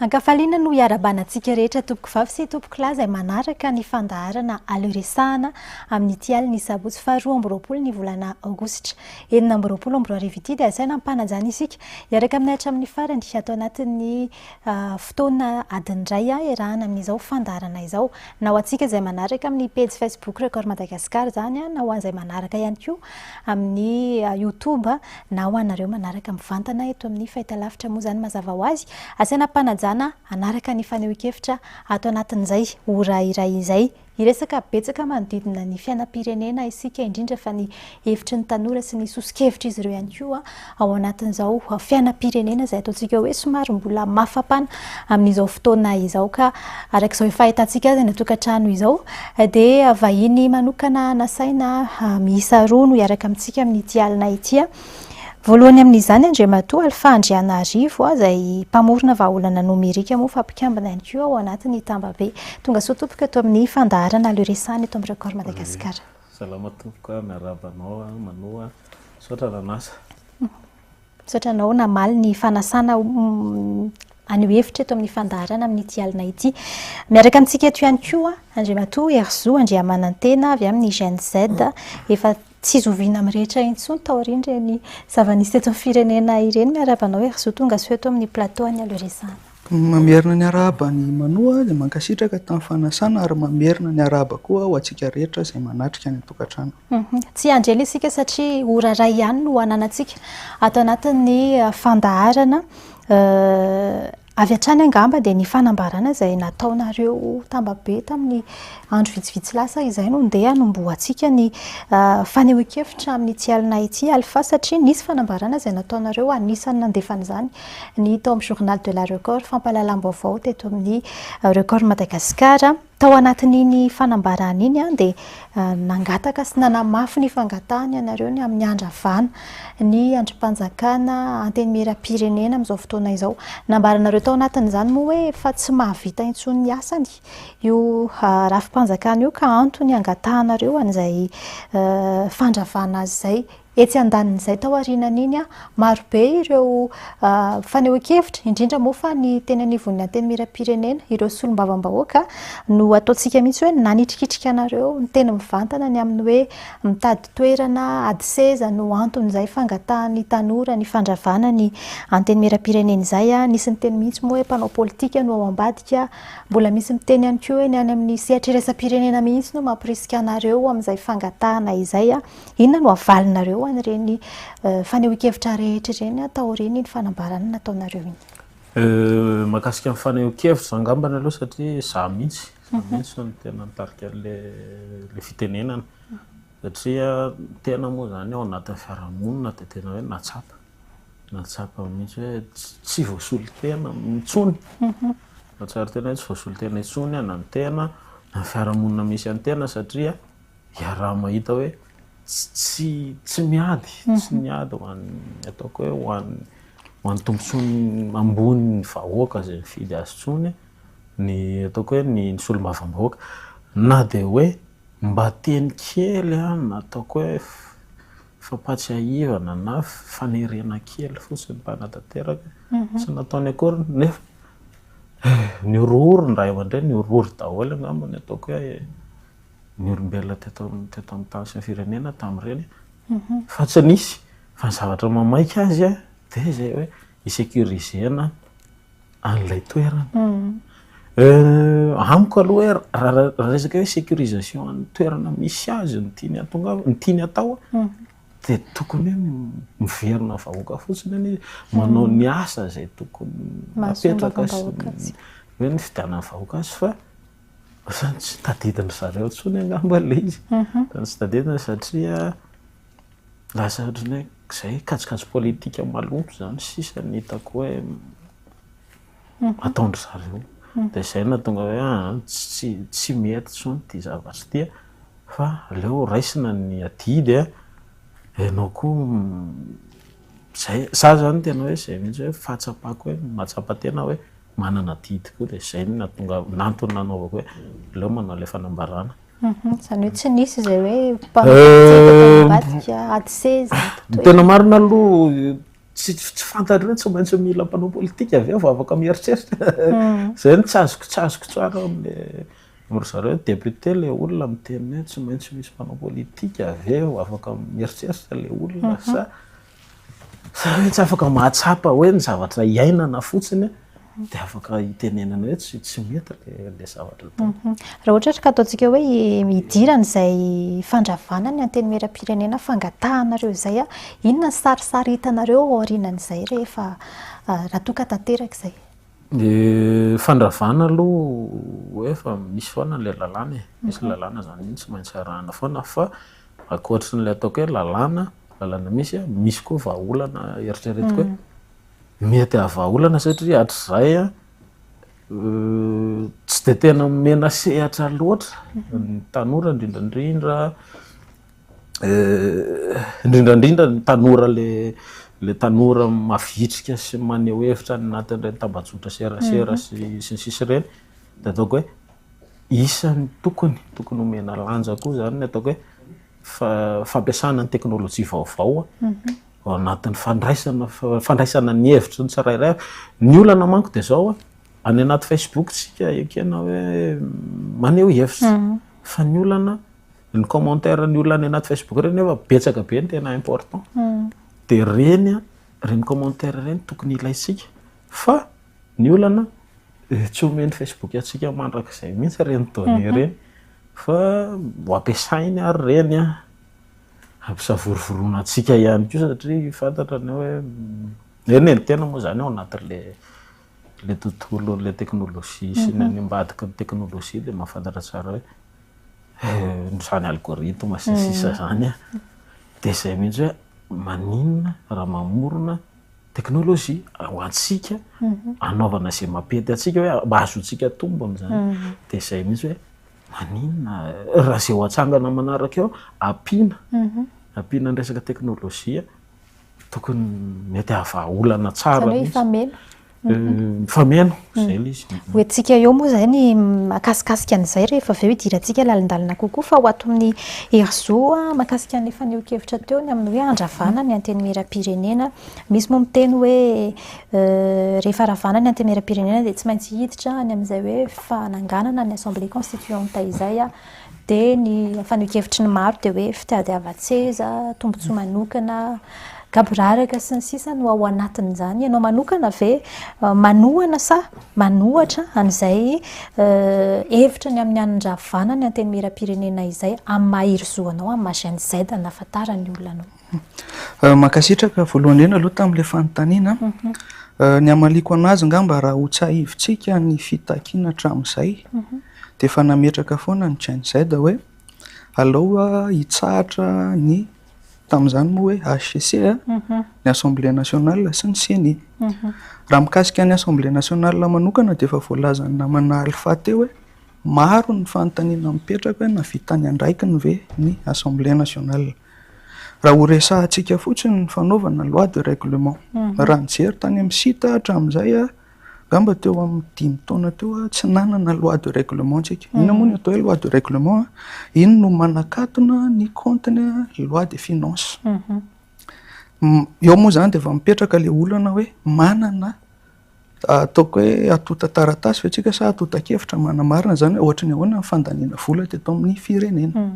Ankafaliana no hiarabana antsika rehetra tompoko vavy sy tompoko lahy izay manaraka ny fandaharana aleresahana amin'ity alina ny sabotsy faharoa amby roapolo ny volana aogositra. enina amby roapolo amby roa arivo ity dia asaina ampanajana isika. Hiaraka aminay hatramin'ny farany ato anatin'ny fotoana adiny iray iarahana amin'izao fandaharana izao. Na ho antsika izay manaraka amin'ny pejy Facebook Record Madagascar izany na ho an'izay manaraka ihany koa amin'ny Youtube na ho anareo manaraka mivantana eto amin'ny fahitalavitra moa izany mazava ho azy. Asaina ampanajana hanaraka ny fanehoan-kevitra ato anatin'izay ora iray izay Hiresaka betsaka manodidina ny fiainam-pirenena isika, indrindra fa ny hevitry ny tanora sy ny soso-kevitr'izy ireo ihany koa ao anatin'izao fiainam-pirenena izay ataontsika hoe somary mbola mafampana amin'izao fotoana izao ka araka izao efa ahitantsika azy any an-tokantrano izao dia vahiny manokana nasaina miisa roa no hiaraka amintsika amin'ity alina ity. Voalohany amin'izany Andriamatoa Alpha Andrianarivo, izay mpamorona vahaolana nomerika moa fa mpikambana ihany koa ao anatin'ny tambabe. Tonga soa tompoko eto amin'ny fandaharana le resany eto amin'ny Record Madagascar. Salama tompoko a, miarahaba anao a, Manoa. Misaotra nanasa. Misaotra anao namaly ny fanasana haneho hevitra eto amin'ny fandaharana amin'ity alina ity. Miaraka amintsika eto ihany koa Andriamatoa Herizo Andriamanantena avy amin'ny Gen Z, efa Tsy zoviana amin'ny rehetra intsony taorian'ireny zava-nisy teto amin'ny firenena ireny. Miarahaba anao Hery Zo, tonga soa eto amin'ny plateau an'i Aleo Resahana. Mamerina ny arahaba an'i Manoa izay mankasitraka tamin'ny fanasana ary mamerina ny arahaba koa ho antsika rehetra izay manatrika any an-tokantrano. Tsy hiandry ela isika satria ora iray ihany no ananantsika ato anatin'ny fandaharana. Avy hatrany angamba dia ny fanambarana izay nataonareo tambabe tamin'ny andro vitsivitsy lasa izay no ndeha hanombohantsika ny fanehoan-kevitra amin'ity alina ity Alpha satria nisy fanambarana izay nataonareo anisan'ny nandefa an'izany ny tao amin'ny Journal de la Record, Fampahalalam-baovao teto amin'ny Record Madagascar. Tao anatin'iny fanambarana iny dia nangataka sy nanamafy ny fangatahany ianareo ny amin'ny handravana ny andrim-panjakana Antenimierampirenena amin'izao fotoana izao. Nambaranareo tao anatin'izany moa hoe fa tsy mahavita intsony ny asany io rafi-panjakana io ka antony angatahanareo an'izay fandravana azy izay. Etsy andanin'izay, tao aorianan'iny, marobe ireo fanehoan-kevitra, indrindra moa fa ny teny anivon'ny Antenimierampirenena, ireo solombavambahoaka, no ataontsika mihitsy hoe nanitrikitrika anareo, niteny mivantana ny amin'ny hoe mitady toerana, ady seza no anton'izay fangatahan'ny tanora ny fandravana ny Antenimierampirenena izay. Nisy niteny mihitsy moa hoe mpanao politika no ao ambadika. Mbola misy miteny ihany koa hoe ny any amin'ny sehatra iraisam-pirenena mihitsy no mampirisika anareo amin'izay fangatahana izay. Inona no havalinareo an'ireny fanehoan-kevitra rehetra ireny taorian'iny fanambarana nataonareo iny? Mahakasika ny fanehoan-kevitra izany angambany aloha satria izaho mihitsy, izaho mhm. mihitsy no tena nitarika an'ilay fitenenana. Mhm. Satria ny tena moa izany ao anatin'ny fiarahamonina dia tena hoe nahatsapa. Nahatsapa mihitsy hoe tsy voasolon-tena intsony. Mhm. Nahatsapa tena hoe tsy voasolon-tena intsony na ny tena, na ny fiarahamonina misy an'ny tena satria Iaraha-mahita hoe tsy tsy miady, tsy niady ho an'ny ataoko hoe ho an'ny ho an'ny tombontsoany ambony ny vahoaka izay nifidy azy intsony ny ataoko hoe ny ny solombavambahoaka. Na dia hoe mba teny kely na ataoko hoe fampahatsiahivana na fanerena kely fotsiny mba hanatanteraka, tsy nataony akory nefa nihorohoro ny ray aman-dreny, nihorohoro daholo angamba ny ataoko hoe. ny olombelona teto teto amin'ny tany sy ny firenena tamin'ireny fa tsy nisy fa ny zavatra mamaika azy a dia izay hoe hi-sécurisena an'ilay toerana. Amiko aloha hoe raha resaka hoe sécurisation an'ny toerana misy azy ny tiany hahatongavana ny tiany hatao dia tokony hoe miverina vahoaka fotsiny anie izy, manao ny asa izay tokony apetraka sy ny hoe ny fidianan'ny vahoaka azy fa Ohatrany tsy tadidin-dry zareo intsony angamba ilay izy. Ohatrany tsy tadidiny satria lasa ohatrany hoe izay kajikajy politika maloto izany sisa no hitako hoe ataon-dry zareo. Dia izay no nahatonga hoe aa tsy tsy mety intsony ity zavatra ity a, fa aleo raisina ny adidy a, ianao koa izay. Za izany tena hoe izay mihitsy hoe fahatsapako hoe mahatsapa tena hoe Manana adidy koa dia izay no nahatonga, antony nanaovako hoe aleo manao ilay fanambarana. Izany hoe tsy nisy izay hoe mpampiantsika ady seza. Ny tena marina aloha tsy tsy fantatro hoe tsy maintsy mila mpanao politika avy eo vao afaka mieritreritra. Izay no tsy azoko tsy azoko tsara amin'ilay ry zareo hoe député ilay olona miteny hoe tsy maintsy misy mpanao politika avy eo vao afaka mieritreritra ilay olona sa. Za hoe tsy afaka mahatsapa hoe ny zavatra iainana fotsiny dia afaka hitenenana hoe tsy tsy mety le le zavatra atao. Mhm. Raha ohatra ka ataontsika hoe hidirana izay fandravana ny antenimieram-pirenena fangatahanareo izay a, inona ny sarisary hitanareo aorianan'izay rehefa raha toa ka tanteraka izay? Ny fandravana aloha hoe efa misy foana le lalàna e, misy lalàna zany iny tsy maintsy arahana foana fa Ankoatry ny le ataoko hoe lalàna, lalàna misy a, misy koa vahaolana eritreretiko hoe mety hahavahaolana satria hatrizay a tsy dia tena omena sehatra loatra ny tanora indrindra indrindra indrindra indrindra ny tanora le le tanora mavitrika sy maneho hevitra any anatin'ireny tambajotra serasera sy ny sisa ireny de ataoko hoe isan'ny tokony tokony omena lanja koa izany ny ataoko hoe fampiasana ny teknolojia vaovao ao anatin'ny fandraisana fandraisana ny hevitry ny tsirairay. Ny olana manko dia izao a, any anaty Facebook tsika ekena hoe maneho hevitra mhm. fa ny olana ny commentaire ny olona any anaty Facebook ireny nefa betsaka be ny tena important. Mhm. Dia ireny a, ireny commentaire ireny tokony ilaintsika fa ny olana Dia tsy omen'ny Facebook antsika mandrakizay mihitsy ireny données ireny fa ho ampiasainy ary ireny hampisavorovoroana antsika ihany koa satria fantatra ny hoe eny e, ny tena moa izany ao anatin'ilay ilay tontolon'ilay teknolojia sy ny any ambadiky ny teknolojia dia mahafantatra tsara hoe izany algorithme sy ny sisa izany dia izay mihitsy hoe maninona raha mamorona teknolojia ho antsika anaovana izay mampety antsika hoe mba hahazoantsika tombony izany. Dia izay mihitsy hoe maninona raha izay ho atsangana manaraka eo ampiana ampiana ny resaka teknolojia tokony mety hahavaha olana tsara mihitsy. Izany hoe hifameno. Hifameno. Izay ilay izy. Ho entintsika eo moa izay ny makasikasika an'izay rehefa avy eo hidirantsika lalindalina kokoa fa ho ato amin'ny Herizo mahakasika ny fanehoan-kevitra teo ny amin'ny hoe handravana ny Antenimierampirenena. Misy moa miteny hoe rehefa ravana ny Antenimierampirenena dia tsy maintsy hiditra any amin'izay hoe fananganana ny Assemblée Constituante izay. Dia ny fanehoan-kevitry ny maro dia hoe fitadiavan-tseza, tombontsoa manokana, gaboraraka sy ny sisa no ao anatin'izany. Ianao manokana ve manohana sa manohatra an'izay hevitra ny amin'ny hanindravanan'ny Antenimierampirenena izay amin'ny maha-Herizo anao, amin'ny maha-Gen Z nahafantaran'ny olona anao? Mankasitraka voalohany indrindra aloha tamin'ilay fanontaniana. Ny hamaliako an'azy angamba raha ho tsahivintsika ny fitakiana hatramin'izay dia efa nametraka foana ny Gen Z hoe alao hitsahatra ny tamin'izany moa hoe HCC ny Assemblée Nationale sy ny Ceni. Raha mikasika ny Assemblée Nationale manokana dia efa voalazan'ny namana Alpha teo hoe maro ny fanontaniana mipetraka hoe nahavita ny andraikiny ve ny Assemblée Nationale. Raha horesahantsika fotsiny ny fanaovana loi de règlement, raha nijery tany amin'ny site aho hatramin'izay, angamba teo amin'ny dimy taona teo aho tsy nanana loi de règlement antsika. Inona moa no atao hoe loi de règlement? Iny no manakatona ny kaontiny loi de finance. Eo moa izany dia efa mipetraka ilay olana hoe manana. Ataoko hoe antontan-taratasy ve tsika sa antontan-kevitra manamarina izany hoe ohatry ny ahoana ny fandaniana vola teto amin'ny firenena.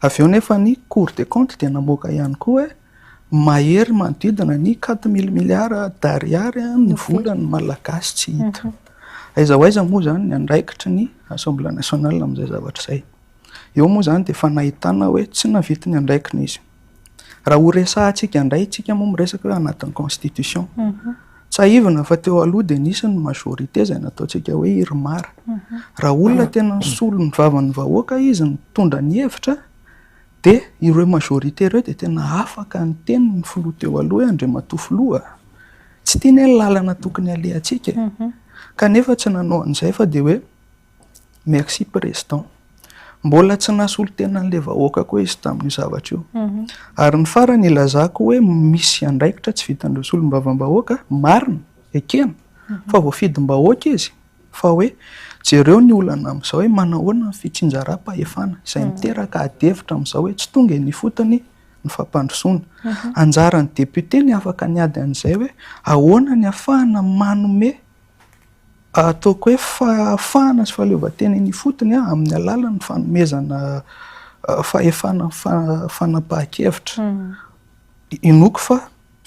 Avy eo nefa ny Cour des comptes dia namoaka ihany koa hoe mahery manodidina ny quatre mille milliards d'ariary ny volan'ny Malagasy tsy hita. Aiza ho aiza moa izany ny andraikitry ny Assemblée nationale amin'izay zavatra izay. Eo moa izany dia efa nahitana hoe tsy nahavita ny andraikiny izy. Raha ho resahantsika indray, isika moa miresaka hoe anatin'ny constitution. Tsahivina fa teo aloha dia nisy ny majorité izay nataontsika hoe IRMAR. Raha olona tena nisolo ny vavan'ny vahoaka izy nitondra ny hevitra dia ireo majorité ireo dia tena afaka niteny ny filoha teo aloha hoe Andriamatoa filoa a! Tsy ity anie ny lalana tokony halehantsika e! Kanefa tsy nanao an'izay fa dia hoe Merci Président. Mbola tsy nasolo tena an'ilay vahoaka koa izy tamin'io zavatra io. Ary ny farany ilazako hoe misy andraikitra tsy vitan'ireo solombavambahoaka, marina, ekena, fa voafidim-bahoaka izy, fa hoe jereo ny olana amin'izao hoe manao ahoana ny fitsinjaram-pahefana, izay miteraka adihevitra amin'izao hoe tsy tonga eny ifotony ny fampandrosoana. Anjaran'ny député ny afaka niady an'izay hoe ahoana ny afahana manome. Ataoko hoe fahafahana sy fahaleovantena eny ifotony amin'ny alalan'ny fanomezana fahefana fanapahan-kevitra. Inoako fa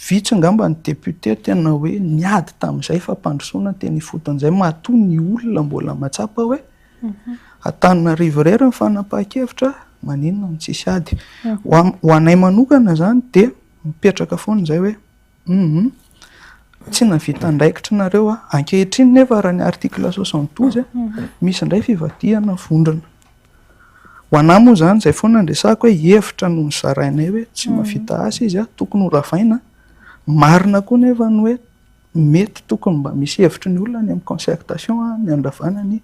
vitsy angamba ny députés tena hoe niady tamin'izay fampandrosoana ny teny ifotony izay matoa ny olona mbola mahatsapa hoe Antananarivo irery ny fanapahan-kevitra, maninona no tsisy ady. Ho anay manokana izany dia mipetraka foana izay hoe. Humm tsy nahavita andraikitry nareo a! Ankehitriny nefa raha ny article soixante douze misy indray fivadihana vondrona. Ho anah moa izany izay foana no resahiko hoe hevitra no nozarainay hoe tsy mahavita asa izy a! Tokony ho ravaina a! Marina koa nefa ny hoe mety tokony mba misy hevitry ny olona any amin'ny concertation a! Ny handravana ny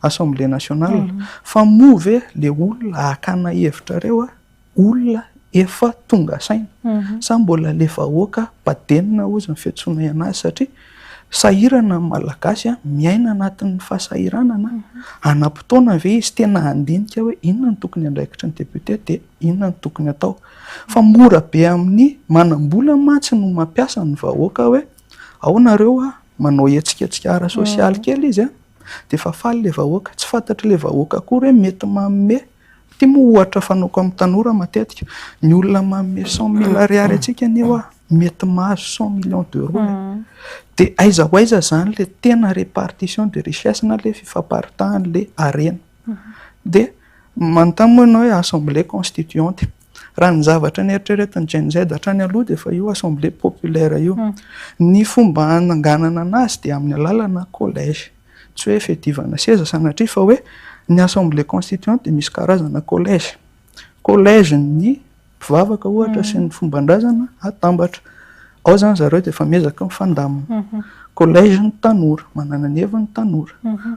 assemblée nationale. Fa moa ve ilay olona hakana hevitrareo a! olona efa tonga saina sa mbola le vahoaka badenina ozy ny fiantsoana ianazy satria sahirana ny malagasy a, miaina anatin'ny fahasahiranana hanam-potoana ve izy tena handinika hoe inona no tokony andraikitry ny député de inona no tokony atao fa mora be amin'ny manam-bola mantsy no mampiasa ny vahoaka hoe ao nareo a, manao hetsiketsika ara sosialy kely izy a de efa faly le vahoaka, tsy fantatry le vahoaka akory hoe mety manome. Ity moa ohatra fanaoko amin'ny tanora matetika, ny olona manome cent mille ariary antsika anie hoa mety mahazo cent millions d'euros e! Dia aiza ho aiza izany ilay tena répartition de richesse na ilay fifamparitan'ilay harena? Dia manontany moa ianao hoe assemblée constituante, raha ny zavatra neritreretin'ny Gen-Z hatrany aloha dia efa io assemblée populaire io. Ny fomba hananganana an'azy dia amin'ny alalana collège. Tsy hoe fiadivana seza sanatria fa hoe ny assemblée constituante dia misy karazana collège. Collège ny mpivavaka ohatra sy ny fomban-drazana atambatra. Ao izany zareo dia efa miezaka mifandamina. Collège ny tanora, manana ny heviny ny tanora.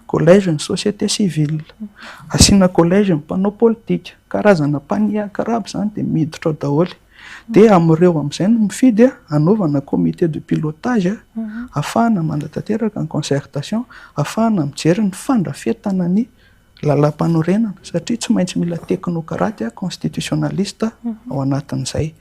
Collège ny société civile. Asiana collège ny mpanao politika. Karazana mpaniakaraba izany dia miditra ao daholo. Dia amin'ireo amin'izay no mifidy hanaovana comité de pilotage ahafahana manatanteraka ny concertation, ahafahana mijery ny fandrafetana ny lalàmpanorenana satria tsy maintsy mila teknokraty constitutionnaliste ao anatin'izay.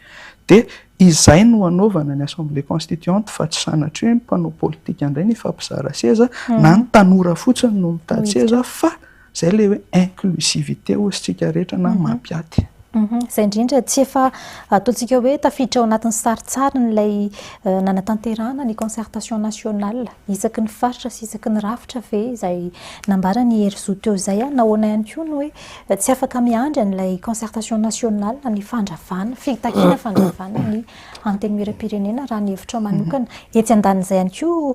Dia izay no hanaovana ny assemblée constituante fa tsy sanatria hoe ny mpanao politika indray no hifampizara seza na ny tanora fotsiny no mitady seza fa Izay ilay hoe inclusivité hoy isika rehetra na maha mpiaty. Izay indrindra, tsy efa ataontsika hoe tafiditra ao anatin'ny sarintsariny ilay nanatanterahana ny concertation nationale isaky ny faritra sy isaky ny rafitra ve izay nambaran'i Herizo teo izay an? Nahoana ihany koa no hoe tsy afaka miandry an'ilay concertation nationale ny fandravana, fitakiana fandravana ny Antenimieram-pirenena raha ny hevitrao manokana. Etsy andanin'izay ihany koa,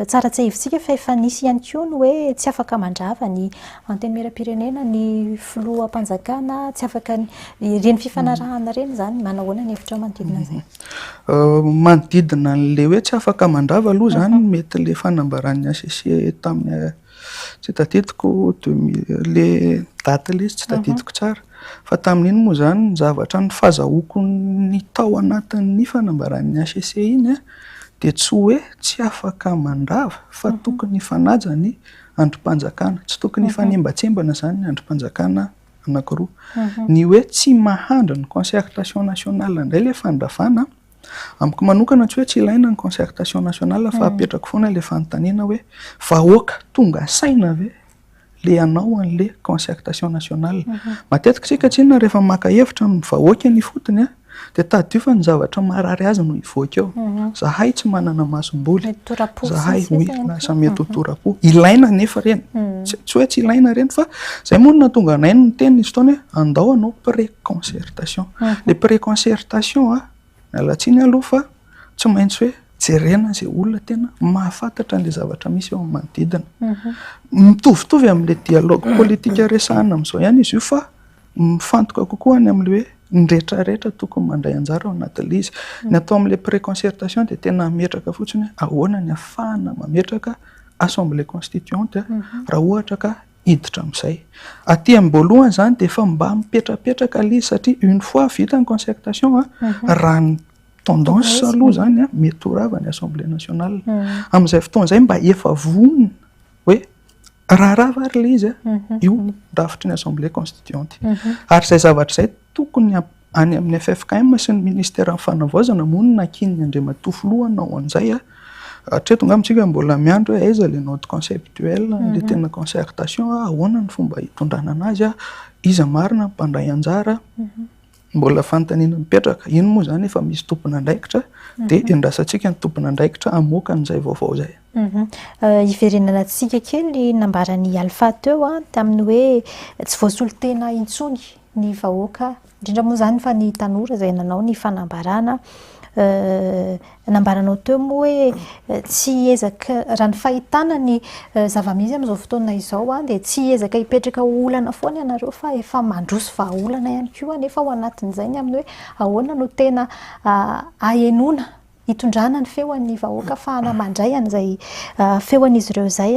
tsara tsiahivintsika fa efa nisy ihany koa ny hoe tsy afaka mandrava ny Antenimieram-pirenena, ny Filoham-panjakana, tsy afaka ny, ireny fifanarahana ireny izany, manao ahoana ny hevitrao manodidina an'izay? Manodidina an'ilay hoe tsy afaka mandrava aloha izany, mety ilay fanambaran'ny HCC tamin'ny. Tsy tadidiko deux mille le date le izy tsy tadidiko tsara fa tamin'iny moa zany ny zavatra ny fazahoako ny tao anatin'ny fanambaran'ny HCC iny a dia tsy hoe tsy afaka mandrava fa tokony hifanaja ny andrim-panjakana, tsy tokony hifanembatsembana zany ny andrim-panjakana anakiroa. Ny hoe tsy mahandry ny concertation nationale indray le fandravana Amiko manokana tsy hoe tsy ilaina ny concertation nationale fa apetrako foana ilay fanontaniana hoe vahoaka tonga saina ve ilay hanao an'ilay concertation nationale. Matetika isika tsinona rehefa maka hevitra amin'ny vahoaka eny ifotony dia tadidio fa ny zavatra marary azy no hivoaka eo. Zahay tsy manana masomboly. Mety tora-po sisa izay. Zahay, oui, lasa mety ho tora-po. Ilaina anefa ireny. Tsy hoe tsy ilaina ireny fa izay moa no nahatonga anay no niteny nisy fotoana hoe Andao hanao pré-concertation. Ilay pré-concertation, miala tsiny aloha fa tsy maintsy hoe jerena izay olona tena mahafantatra an'ilay zavatra misy eo amin'ny manodidina. Mitovitovy amin'ilay dialogue politique resahina amin'izao ihany izy io fa mifantoka kokoa any amin'ilay hoe ny rehetra rehetra tokony mandray anjara ao anatin'ilay izy. Ny atao amin'ilay pré-concertation dia tena hametraka fotsiny hoe ahoana ny hahafahana mametraka assemblée constituante raha ohatra ka hiditra amin'izay. Aty amin'ny boalohany izany dia efa mba mipetrapetraka ilay izy satria une fois vita ny concertation raha ny tendance aloha izany mety ho rava ny assemblée nationale. Amin'izay fotoana izay mba efa vonona hoe raha rava ary ilay izy io ny drafitry ny assemblée constituante. Ary izay zavatra izay tokony Any amin'ny ffkm sy ny ministeran'ny fanavaozana moa no nakian'ny Andriamatoa Filoha hanao an'izay. Hatreto angamba isika mbola miandry hoe aiza ilay note conceptuelle, ilay tena concertation, ahoana ny fomba hitondrana an'azy, iza marina no mpandray anjara. Mbola fanontaniana mipetraka. Iny moa izany efa misy tompon'andraikitra dia endrasantsika ny tompon'andraikitra hamoaka an'izay vaovao izay. Hiverenana antsika kely ny nambaran'i Alpha teo tamin'ny hoe tsy voasolo tena intsony ny vahoaka, indrindra moa izany fa ny tanora izay nanao ny fanambarana, nambaranao teo moa hoe tsy hiezaka, raha ny fahitana ny zava-misy amin'izao fotoana izao dia tsy hiezaka hipetraka ho olana foana ianareo fa efa mandroso vahaolana ihany koa anefa ao anatin'izay ny amin'ny hoe ahoana no tena ahenoana hitondrana ny feo an'ny vahoaka hafahana mandray an'izay feo an'izy ireo izay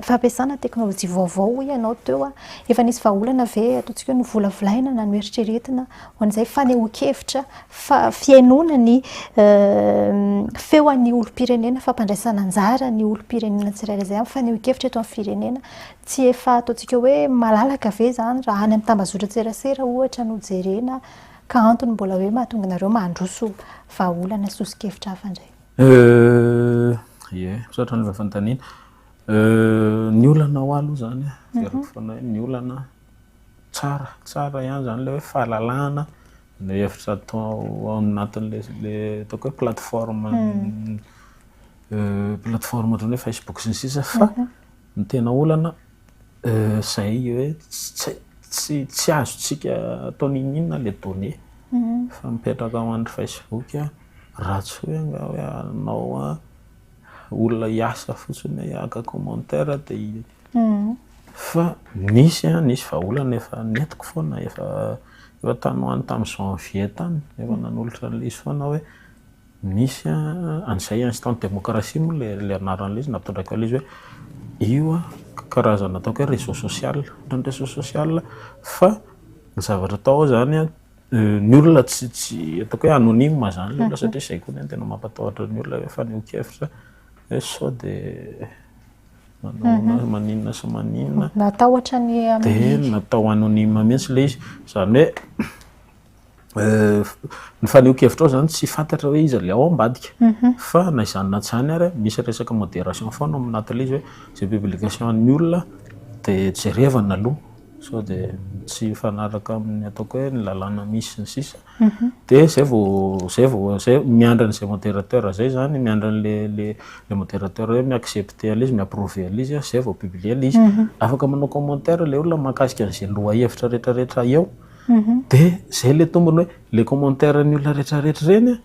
fampiasana teknolojia vaovao hoy ianao teo efa nisy vahaolana ve ataontsika hoe novolavolaina na noeritreretina ho an'izay fanehoan-kevitra fa fihainoana ny feo an'ny olom-pirenena fampandraisana anjara ny olom-pirenena tsirairay izay amin'ny fanehoan-kevitra eto amin'ny firenena tsy efa ataontsika hoe malalaka ve izany raha any amin'ny tambazotran-tserasera ohatra no jerena Ka antony mbola hoe mahatonga anareo mandroso vahaolana soso-kevitra hafa indray? Euh, ie, misaotra an'ilay fanontaniana. Euh, ny olana ho ahy aloha izany an, heveriko mhm. foana hoe ny olana tsara, tsara ihany izany ilay hoe fahalalahana no hevitra atao ao anatin'ilay ataoko hoe plateforme, hmm. euh, plateforme ohatran'ny hoe Facebook sy ny sisa fa mhm. Ny tena olana izay hoe tsy azontsika atao n'inon'inona ilay données efa mipetraka ao amin'ny facebook raha tsy hoe angaha hoe anao olona hiasa fotsiny hoe haka commentaire dia fa nisy an, nisy vahaolana efa nentiko foana efa tany ho any tamin'ny janvier tany efa nanolotra an'ilay izy foana hoe. Misy an, izay instant démocratie moa ilay anaran'ilay izy nampitondrako an'ilay izy hoe io karazana ataoko hoe réseau social ohatran'ny réseau social fa ny zavatra atao ao izany an, ny olona tsy tsy ataoko hoe anonyme izany ilay olona satria izay koa ny ahy no tena mampatahotra ny olona hoe fanehoan-kevitra hoe sao dia manao maninona sy maninona. Natahotra ny anonyme. Dia natao anonyme mihitsy ilay izy, izany hoe. ny fanehoan-kevitrao zany tsy fantatra hoe iza le ao ambadika fa na izany na tsy izany ary misy resaka modération foana ao amin'ilay tele izy hoe izay publication an'ny olona de jerevana aloha sao de tsy hifanaraka amin'ny ataoko hoe ny lalàna misy sy ny sisa de zay vao zay vao zay miandry an'izay modérateur zay zany miandry an'le le le modérateur hoe mi-accepter an'le izy mi-approver an'le izy zay vao publier le izy afaka manao commentaire le olona mahakasika an'izay lohahevitra retraretra eo De zay le tombony hoe le commentaire ny olona rehetra rehetra ireny a,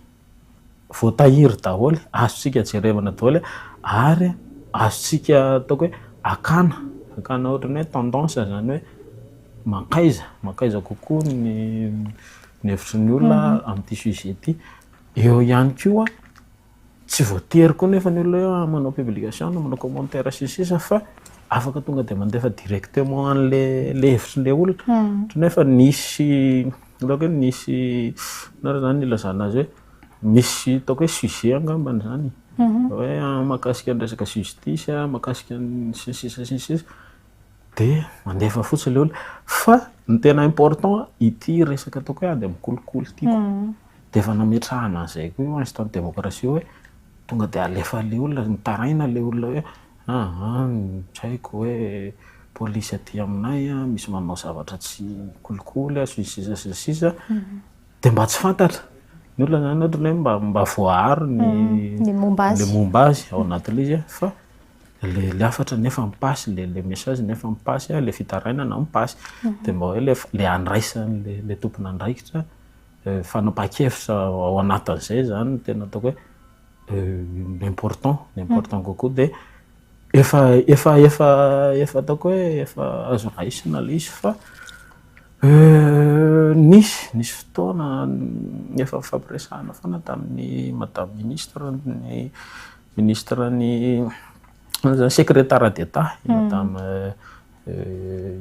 voatahiry daholo, azontsika jerevana daholo ary azontsika ataoko hoe akana, akana ohatran'ny hoe tendance zany hoe mankaiza, mankaiza kokoa ny ny hevitry ny olona amin'ity sujet ity. Eo ihany koa. Tsy voatery koa nefa ny olona hoe manao publication na manao commentaire sy ny sisa fa afaka tonga dia mandefa directement an'le le hevitrin'le olona hmm. otrany efa nisy ataoko hoe nisy nara zany ilazana azy hoe misy ataoko hoe sujet angambany zany hmm. hoe ah, makasika ny resaka justice ah, makasika ny sy ny sisa sy ny sisa De mandefa fotsiny le olona. Fa ny tena important ity resaka ataoko hoe ady amin'ny kolikoly ity ko de efa nametrahana an'izay koa io instant démocratie hoe tonga de alefa le olona, mitaraina le olona hoe aa tsy haiko hoe polisy aty aminay a misy manao zavatra tsy kolikoly a sy ny sisa sy ny sisa de mba tsy fantatra ny olona zany ohatrany hoe mba voaaro ny le momba azy ao anatin'le izy fa le le hafatra nefa mipasy le le message nefa mipasy le fitarainana mipasy de mba hoe le le andraisan'ny le le tompon'andraikitra fanapahan-kevitra ao anatin'izay zany no tena ataoko hoe important important kokoa de efa efa efa efa ataoko hoe efa azo raisina le izy fa nisy nisy fotoana efa nifampiresahana foana tamin'ny madame ministre ny Ministra ny Secrétaire d'Etat i Madame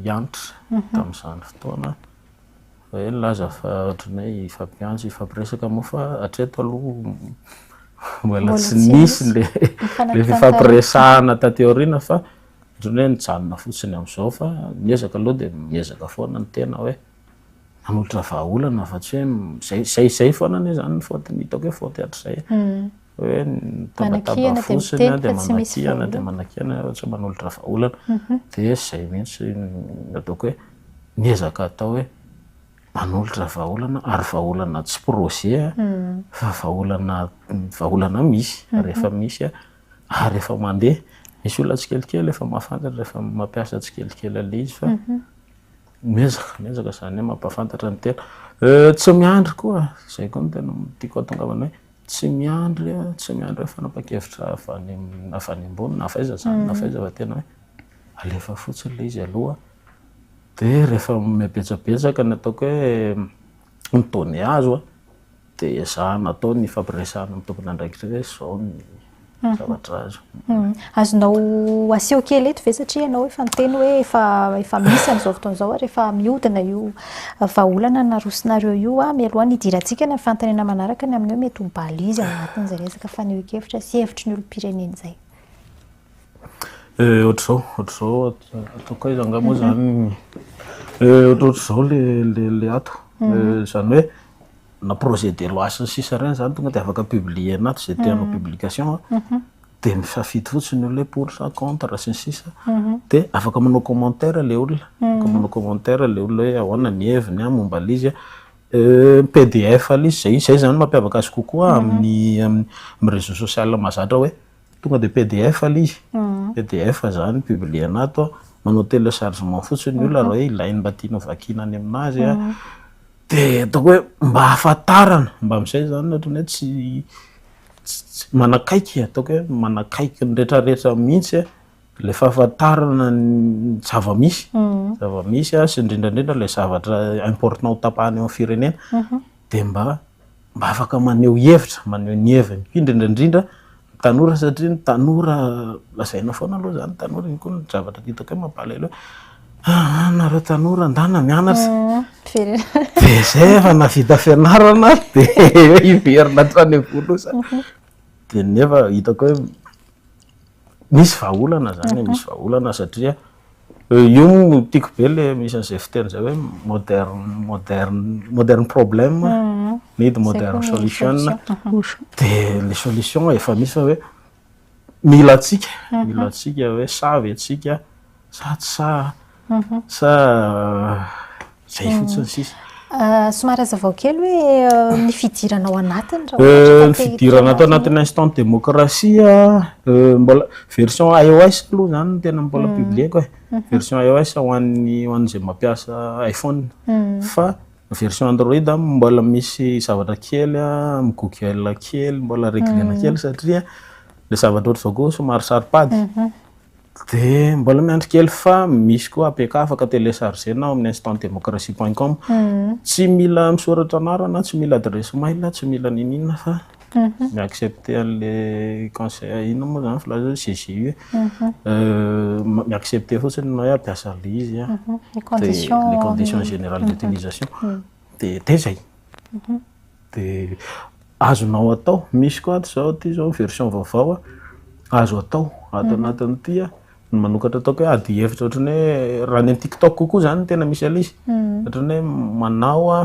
Hanitra tamin'izany fotoana hoe nilaza fa ohatran'ny hoe hifampiantso, hifampiresaka moa fa hatreto aloha mbola tsy nisy ilay fifampiresahana taty aoriana fa ohatran'ny hoe nijanona fotsiny amin'izao fa ny ezaka aloha dia miezaka foana ny tena hoe manolotra vahaolana fa tsy hoe izay izay foana anie izany ny faute ny hitako hoe faute hatrizay e. hoe mitabataba fotsiny dia manakihana dia manakihana hoe tsy manolotra vahaolana mhm. dia izay mihitsy ataoko hoe miezaka atao hoe manolotra vahaolana ary vahaolana tsy projet mhm. fa vahaolana vahaolana misy mhm. rehefa misy ary efa mandeha misy olona tsikelikely efa mahafantatra rehefa mampiasa tsikelikely ale izy fa miezaka miezaka izany hoe mampahafantatra ny tena eh, tsy miandry koa izay koa no tena tiako atongavana hoe Tsy miandry tsy miandry hoe fanapahan-kevitra avy any avy any ambony na avy aiza izany na avy aiza fa tena hoe alefa fotsiny ilay izy aloha dia rehefa manome betsabetsaka ny ataoko hoe ny données azo dia ezahana atao ny ifampiresahana amin'ny tompon'andraikitra hoe izao ny zavatra azo. Hmm. Azonao aseho kely eto ve satria ianao efa niteny hoe efa efa misy an'izao fotoana izao ary efa mihodina io eh, vahaolana narosonareo io a ah, mialoha ny hidirantsika ny fantanina manaraka ny amin'ny hoe mety ho balise ao anatin'izay resaka fanehoan-kevitra sy hevitry ny olom-pirenena izay. Eh, ohatr'izao, ohatr'izao ataoko aiza angamba mhm. izany eh, ohatr'ohatr'izao le le le ato mhm. izany hoe na projet de loi sy ny sisa ireny zany tonga de afaka publier anaty izay tianao publication de misafidy fotsiny ny olona hoe pour sa contre sy ny sisa de afaka manao commentaire le olona afaka manao commentaire le olona hoe ahoana ny heviny momba le izy euh pdf le izy zay zay zany mampiavaka azy kokoa amin'ny amin'ny réseau social mahazatra hoe Tonga dia pdf aloha izy, pdf izany publier-na ato, manao téléchargement fotsiny ny olona raha hoe ilainy mba tiany ho vakiana any amin'azy, dia ataoko hoe mba hahafantarana, mba amin'izay izany ny ohatran'ny hoe tsy tsy manakaiky, ataoko hoe manakaiky ny rehetrarehetra mihitsy ilay fahafantarana ny zava-misy, zava-misy sy indrindra indrindra ilay zavatra important ho tapahana eo amin'ny firenena dia mba. Mba afaka maneho hevitra, maneho ny heviny indrindra indrindra ny tanora satria ny tanora lazaina foana aloha izany ny tanora, iny koa ny zavatra hitako hoe mampalahelo hoe aa nareo tanora ndana mianatra dia izay efa nahavita fianarana ary dia hiverina hatrany am-polosa dia nefa hitako hoe Misy vahaolana zany, mhm. misy vahaolana satria euh, io no tiako be le misy an'izay fiteny zay hoe modern modern modern problem mhm. need modern solution mhm. de le solution efa misy fa hoe mila atsika mila atsika hoe savy atsika Sa tsy sahy an? Sa izay fotsiny sisa? Somary hazavao kely hoe ny fidirana ao anatiny raha ohatra ka te Ny hitombo fidirana ato anatin'ny azy. instant démocratie a, mbola version IOS aloha izany no tena mbola publieko e, version IOS ho an'ny ho an'izay mampiasa iPhone, fa version Android mbola misy zavatra kely amin'ny Google kely mbola regle-na kely satria le zavatra ohatr'izao koa somary saro-pady. Dia mbola miandry kely fa misy koa APK afaka télécharger-na ao amin'ny instantdemocratie point com. Tsy mila misoratra anarana, tsy mila adresse mail, tsy mila niniana fa mi-accepter an'ilay conseil inona moa izany filaza hoe CGU e? mi-accepter fotsiny ny hoe hampiasa an'ilay izy an. Ny conditions générales d'utilisation. Dia izay. De azonao atao, misy koa ato zao ty zao version vaovao a, azo atao ato anatin'ity a, ny manokatra ataoko hoe ady hevitra ohatran'ny hoe raha any amin'ny tiktok kokoa zany no tena misy an'izy, ohatran'ny hoe manao a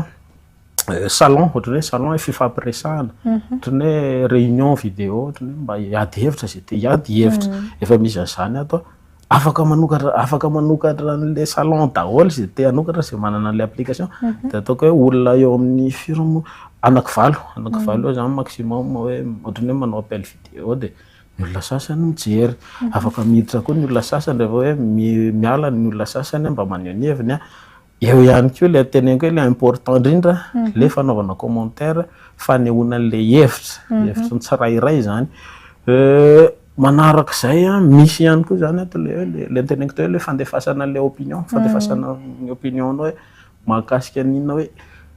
salon, ohatran'ny hoe salon e, fifampiresahana, ohatran'ny hoe réunion vidéo ohatran'ny hoe mba hiady hevitra ze te hiady hevitra, efa misy an'zany ato a, Afaka manokatra afaka manokatra an'ilay salon daholo izay te hanokatra izay manana an'ilay application. Mhm. Dia ataoko hoe olona eo amin'ny firy moa? Anaky valo, anaky mhm. valo eo izany maximum hoe ohatry ny hoe manao appel vidéo dia ny olona sasany mijery. Mhm. Afaka miditra koa ny olona sasany rehefa hoe miala ny olona sasany mba maneho ny heviny. Eo ihany koa ilay teneniko hoe ilay important indrindra, ilay fanaovana commentaire, fanehoana an'ilay hevitra, hevitry ny tsirairay izany. Manaraka izay, misy ihany koa izany ato ilay hoe, ilay teneniko teo hoe ilay fandefasana an'ilay opinion, fandefasana ny opinion-nao hoe mahakasika ny inona hoe,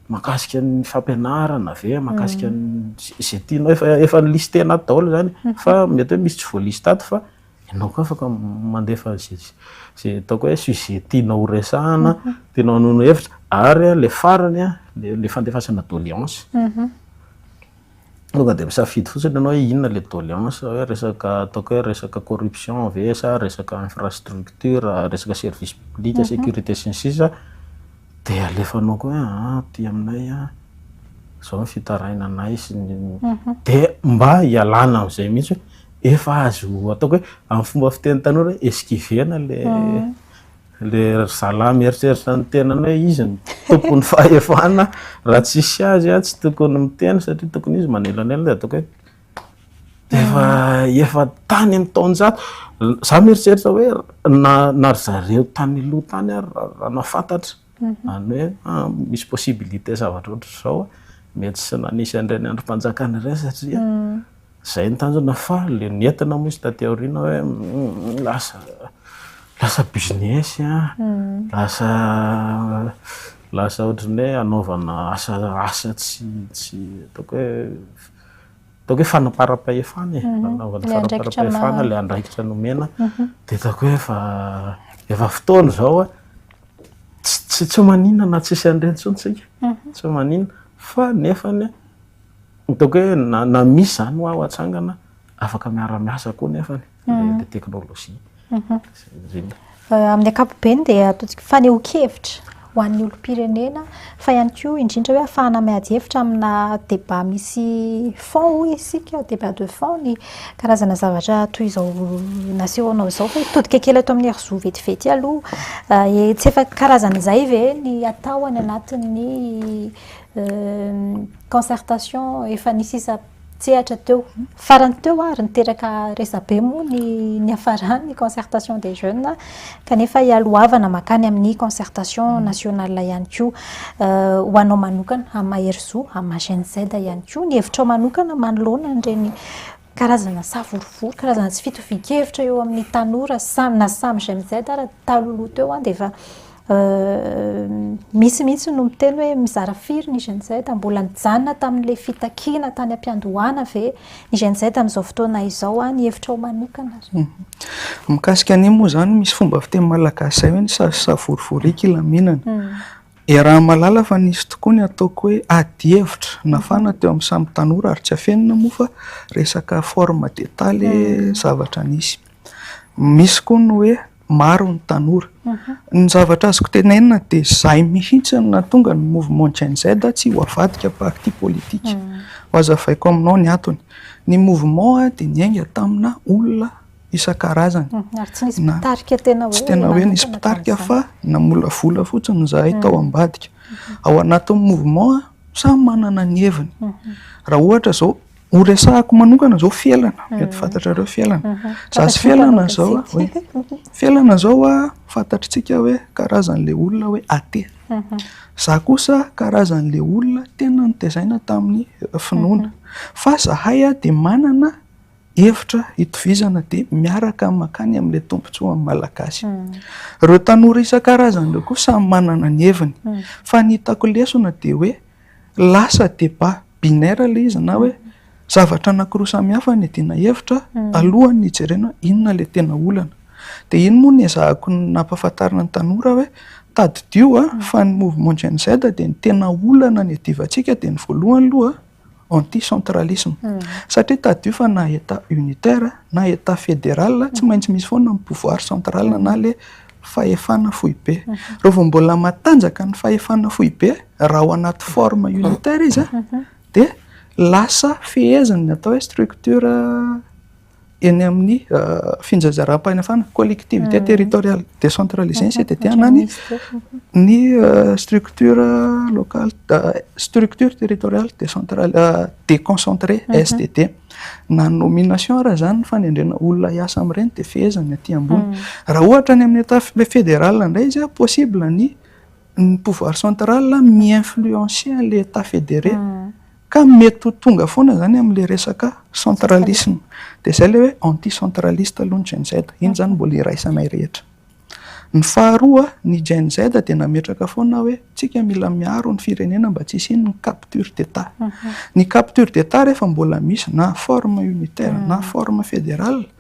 mahakasika ny fampianarana ve, mahakasika ny izay tianao, efa efa ni-lister-na ato daholo izany e, fa mety hoe misy tsy voa-lister ato fa. Ianao koa afaka mandefa izay ataoko hoe sujet tianao ho resahana, tianao hanono hevitra, ary ilay farany ilay fandefasana doléance. Mhm. Tonga dia misafidy fotsiny ianao hoe inona ilay doléance, hoe resaka ataoko hoe resaka corruption ve sa resaka infrastructure, resaka service public, mhm. sécurité sy ny sisa. Dia alefanao koa hoe aty aminay izao ny fitarainanay sy ny dia mba ialana amin'izay mihitsy hoe efa azo atao hoe amin'ny fomba fiteny tanora hoe esquiver-na ilay ilay ry zalahy mieritreritra ny tenany hoe izy no tompon'ny fahefana raha tsisy azy tsy tokony miteny satria tokony izy manelanelana dia ataoko hoe Efa efa tany amin'ny taonjato. Za mieritreritra hoe na na ry zareo tany aloha tany ary raha nahafantatra mhm. any hoe ah, misy possibilité zavatra ohatr'izao mety tsy nanisy an'ireny andrim-panjakana ireny satria mm. zay ny tanjona fa le nentina moa izy taty aoriana hoe mm, lasa lasa business a mm. lasa lasa ohatrany hoe anaovana asa asa tsy tsy ataoko hoe ataoko hoe fanamparam-pahefana e, fanaovana fanamparam-pahefana ilay andraikitra nomena, dia ataoko hoe efa efa fotoana izao tsy tsy manina na tsisy an'ireny intsony tsika, tsy manina fa nefa ny ataoko hoe na misy izany ho aho atsangana afaka miara-miasa koa nefany. ny teknolojia. Amin'ny ankapobeny dia ataontsika fanehoan-kevitra ho an'ny olom-pirenena fa ihany koa indrindra hoe afahana miady hevitra amina débat misy fond hoy isika, débat de fond ny karazana zavatra toy izao nasehonao izao. Fa hitodika kely eto amin'ny hery zo vetivety aloha, tsy efa karazana izay ve ny atao any anatin'ny concertation efa nisy isa-. an-tsehatra teo. Farany teo ary niteraka resabe moa ny niafarany ny concertation des jeunes kanefa hialohavana mankany amin'ny concertation nationale ihany koa. Ho anao manokana, amin'ny maha-Herizo, amin'ny maha-Gen Z ihany koa, ny hevitrao manokana manoloana an'ireny karazana savorovoro, karazana tsy fitovian-kevitra eo amin'ny tanora samy na samy Gen Z ary tamin'ny taloha teo dia efa Misy mihitsy no miteny hoe mizara firy ny GNZ? Mbola nijanona tamin'ilay fitakiana tany am-piandohana ve ny GNZ amin'izao fotoana izao? Ny hevitrao manokana re? Mikasika an'iny moa izany, misy fomba fiteny malagasy izay hoe ny sazy savorovoro eky hilaminana. Iaraha mahalala fa nisy tokoa ny ataoko hoe ady hevitra nafana teo amin'ny samy tanora ary tsy afenina moa fa resaka forme d'état ilay zavatra nisy. Misy koa ny hoe maro ny tanora. Ny zavatra azoko tenenina dia izay mihitsy no nahatonga ny mouvement Gen Z tsy ho avadika parti politique. Hohazavaiko aminao ny antony. Ny mouvement dia niainga tamina olona isan-karazany. Ary tsy nisy mpitarika tena hoe. Tsy tena hoe nisy mpitarika fa namolavola fotsiny izahay tao ambadika. Ao anatin'ny mouvement samy manana ny heviny. Raha ohatra izao. Ho resahako manokana izao Felana, mety mm. fantatrareo Felana. Mhm. Za sy Felana izao, hoe Felana izao a, fantatritsika hoe karazan'ilay olona hoe athée. Mhm. Za kosa karazan'ilay olona tena nitezaina tamin'ny eh, finoana. Mhm. Fa zahay a dia manana hevitra itovizana dia miaraka makany amin'ilay tombontsoa amin'ny malagasy. Mm. Ireo tanora isan-karazany ireo koa samy manana ny heviny. Mm. Fa ny hitako lesona dia hoe lasa débat binaire ilay izy na hoe zavatra anankiroa samihafa no iadiana hevitra alohan'ny hijerena hoe inona ilay tena olana. Dia iny moa no ezahako nampahafantarina ny tanora hoe tadidio fa ny mouvement Gen Z dia ny tena olana niadivantsika dia ny voalohany aloha anti centralisme. Satria tadidio fa na Etat unitaire na Etat fédéral tsy maintsy misy foana ny pouvoir central na ilay fahefana foibe. Raha vao mbola matanjaka ny fahefana foibe Raha ao anaty forme unitaire izy dia lasa feheziny ny atao hoe structure eny amin'ny finjazaram-panafana, collectivité mhm. territoriale décentralisée ny CTT na ny ny euh, structure locale euh, structure territoriale décentrale euh, déconcentrée mhm. STD. Na nomination raha zany ny fanendrena olona hiasa amin'ireny dia fehezany aty ambony. Mhm. Raha ohatra ny amin'ny état fédéral indray izy possible ny ny pouvoir central mi-influencer an'ilay Etat fédéré ka mety ho tonga foana izany amin'ilay resaka centralisme. Dia izay ilay hoe anti-centraliste aloha ny Gen-Z. Iny izany no mbola iraisanay rehetra. Ny faharoa, ny Gen-Z dia nametraka foana hoe tsika mila miaro ny firenena mba tsy hisian'ny capture d'Etat. Ny capture d'Etat rehefa mbola misy na forme unitaire na forme fédérale,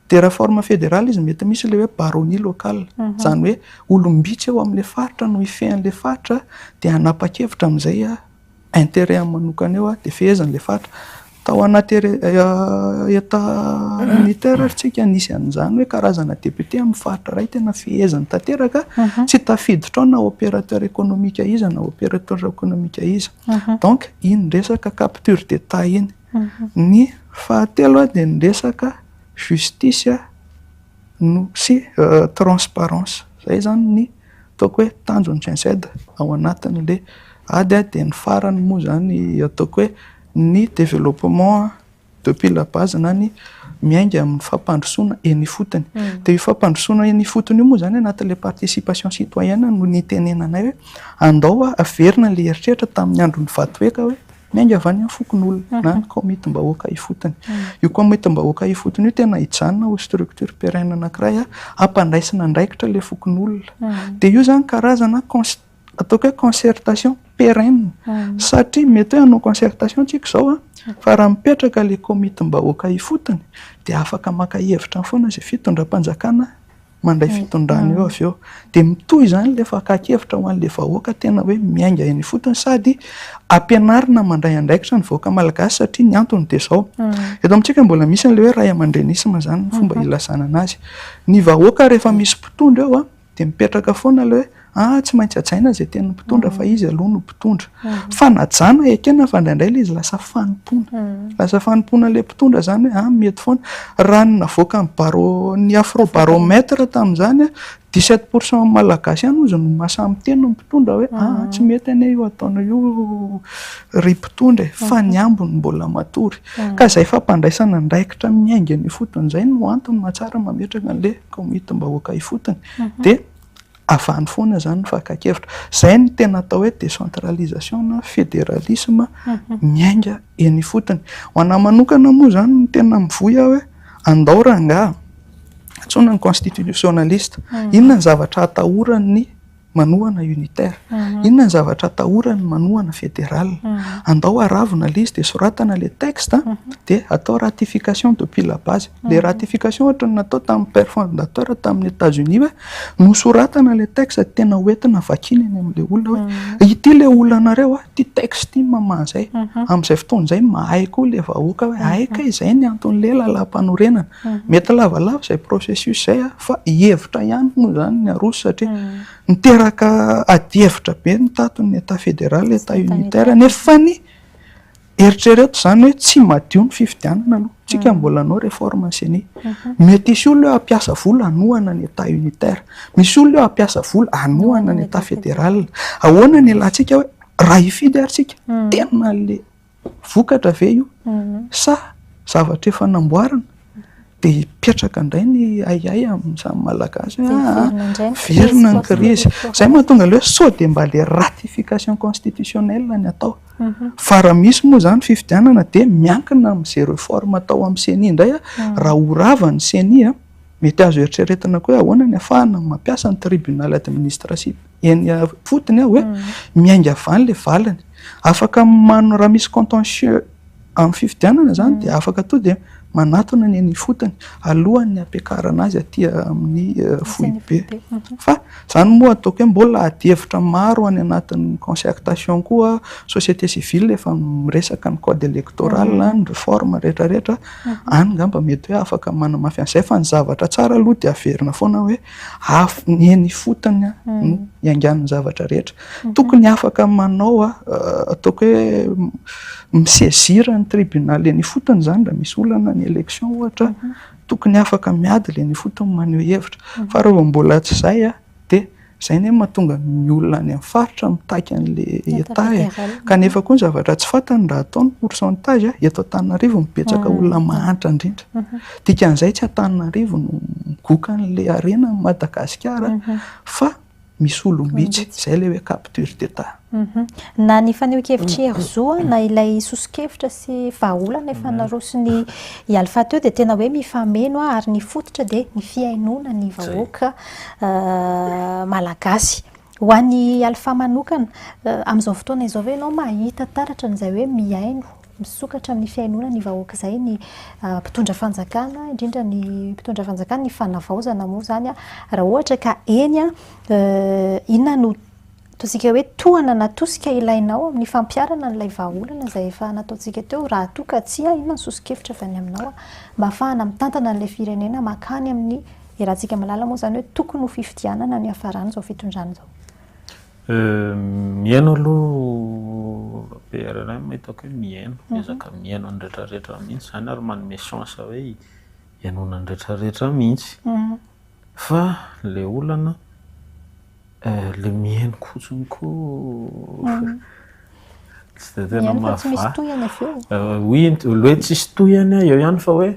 Terraforme fédéral izy mety misy ilay hoe baronnie locale, izany hoe olom-bitsy eo amin'ilay faritra no hifehy an'ilay faritra dia hanapa-kevitra amin'izay intérêt-ny manokana eo dia feheziny ilay faritra. Tao anaty état unitaire ary isika nisy an'izany hoe karazana député amin'ny faritra iray tena feheziny tanteraka, tsy tafiditra ao na opérateur économique iza na opérateur économique iza. Donc iny resaka capture d'état iny. Ny fahatelo dia ny resaka justice no sy transparence. Izay izany ny ataoko hoe tanjon'ny GENCED ao anatin'ilay ady. Dia ny farany moa izany ataoko hoe ny développement depuis la base na ny miainga amin'ny fampandrosoana eny ifotony. Dia io fampandrosoana eny ifotony io moa izany anatin'ilay participation citoyenne no nitenenanay hoe andao averina ilay eritreritra tamin'ny andron'i Vatoeka hoe. Miainga avy any amin'ny fokonolona na ny kaomitim-bahoaka ifotony. Io kaomitim-bahoaka ifotony io tena hijanona ho structure pérenne anankiray hampandraisana andraikitra ilay fokonolona. Dia io izany karazana ataoko hoe concertation pérenne. Satria mety hoe hanao concertation isika izao fa raha mipetraka ilay kaomitim-bahoaka ifotony dia afaka maka hevitra foana izay fitondram-panjakana. mandray fitondrana eo avy eo. Dia mitohy izany ilay fakan-kevitra ho an'ilay vahoaka tena hoe miainga eny ifotony sady ampianarina mandray andraikitra ny vahoaka malagasy satria ny antony dia izao. Eto amintsika mbola misy an'ilay hoe ray aman-drenisma izany ny fomba ilazana an'azy. Ny vahoaka rehefa misy mpitondra eo dia mipetraka foana ilay hoe Ah, tsy maintsy hajaina izay tian'ny mpitondra fa izy aloha no mpitondra. Fanajana ekena fa indraindray ilay izy lasa fanompoana. Lasa fanompoana ilay mpitondra izany hoe ah, mety foana. Raha ny navoakan'ny barô, ny Afrobaromètre tamin'izany, dix sept pour cent Malagasy ihany hozy no mahasahy miteny ny mpitondra hoe ah, tsy mety anie io ataonao io ry mpitondra e, fa ny ambiny mbola matory. Ka izay fampandraisana andraikitra miainga eny ifotony izay no antony mahatsara mametraka an'ilay kaomitim-bahoaka ifotony. Dia Avy any foana izany ny fakan-kevitra. Izay no tena atao hoe décentralisation na fédéralisme miainga eny ifotony. Ho an'ahy manokana moa izany no tena mivoy aho hoe andao rangaha antsoina ny constitutionnaliste. Inona ny zavatra atahoran'ny manohana unitaire? Inona ny zavatra atahoran'ny manohana fédéral? Andao aravona ilay izy dia soratana ilay texte dia atao ratification depuis la base. Ilay ratification ohatran'ny natao tamin'ny père fondateur tamin'ny Etats Unis hoe nosoratana ilay texte dia tena ho entina vakiana eny amin'ilay olona hoe ity ilay olanareo an, ity texte ity no maha izay. Amin'izay fotoana izay mahay koa ilay vahoaka hoe hay kay izay ny anton'ilay lalàmpanorenana. Mety lavalava izay processus izay fa hevitra ihany moa izany ny aroso satria niteraka adihevitra be ny tato ny Etat fédéral, Etat unitaire nefa ny. Eritrereto izany hoe tsy madio ny fifidianana aloha, tsika mbola hanao réforme ceni. Mety hisy olona eo hampiasa vola hanohana ny Etat unitaire. Misy olona eo hampiasa vola hanohana ny Etat fédéral. Ahoana ny ilantsika hoe raha hifidy ary tsika, tena le vokatra ve io sa zavatra efa namboarina? Dia hipetraka indray ny ahiahy amin'ny samy Malagasy hoe aa, miverina ny krizy. Izay no mahatonga ilay hoe sao dia mba ilay ratification constitutionnelle ny atao. Fa raha misy moa izany fifidianana dia miankina amin'izay reforme atao amin'ny ceni indray an, raha ho rava ny ceni an, mety azo eritreretina koa hoe ahoana ny hahafahana mampiasa ny tribunal administratif eny ifotony an hoe miainga avy any ilay valiny. Afaka, raha misy contentieux. Amin'ny fifidianana izany dia afaka tonga dia manatona ny any ifotony alohan'ny hampiakarana azy aty amin'ny foibe. Fa izany moa ataoko hoe mbola adihevitra maro any anatin'ny concertation koa société civile efa miresaka ny code électoral, ny réforme rehetra rehetra. Any angamba mety hoe afaka manamafy an'izay fa ny zavatra tsara aloha dia averina foana hoe ny eny ifotony no iangan'ny zavatra rehetra. Tokony afaka manao ataoko hoe mi-saisir ny tribunal eny ifotony izany raha misy olana ny election ohatra, tokony afaka miady ilay eny ifotony maneho hevitra. Fa raha vao mbola tsy izay dia izay anie no mahatonga ny olona any amin'ny faritra mitaky an'ilay Etat e. Kanefa koa ny zavatra tsy fantany raha atao ny pourcentage, eto Antananarivo no betsaka olona mahantra indrindra. Dikan'izay tsy Antananarivo no migoka an'ilay harena an'i Madagasikara fa Misy olom-bitsy, izay ilay hoe capture d'état. Na ny fanehoan-kevitr'i Herzog na ilay soso-kevitra sy vahaolana efa naroson'i i Alpha teo dia tena hoe mifameno ary ny fototra dia ny fihainoana ny vahoaka malagasy. Ho an'i Alpha manokana, amin'izao fotoana izao ve ianao mahita taratra an'izay hoe mihaino Misokatra amin'ny fihainoana ny vahoaka izay ny mpitondra fanjakana, indrindra ny mpitondra fanjakana, ny fanavaozana moa izany raha ohatra ka eny inona no ataontsika hoe tohana na tosika ilainao amin'ny fampiharana an'ilay vahaolana izay efa nataontsika teo raha toa ka tsia inona ny soso-kevitra avy any aminao mba hahafahana mitantana an'ilay firenena mankany amin'ny, iarahantsika mahalala moa izany hoe tokony ho fifidianana ny hiafaran'izao fitondrana izao. Mihaino aloha BRRM hitako hoe mihaino, miezaka mihaino ny retraretra mihintsy izany ary manome chance hoe hihainoana ny retraretra mihintsy fa ilay olana ilay mihaino fotsiny koa tsy dia tena mahavaha, oui ilay hoe tsisy tohiny eo ihany fa hoe.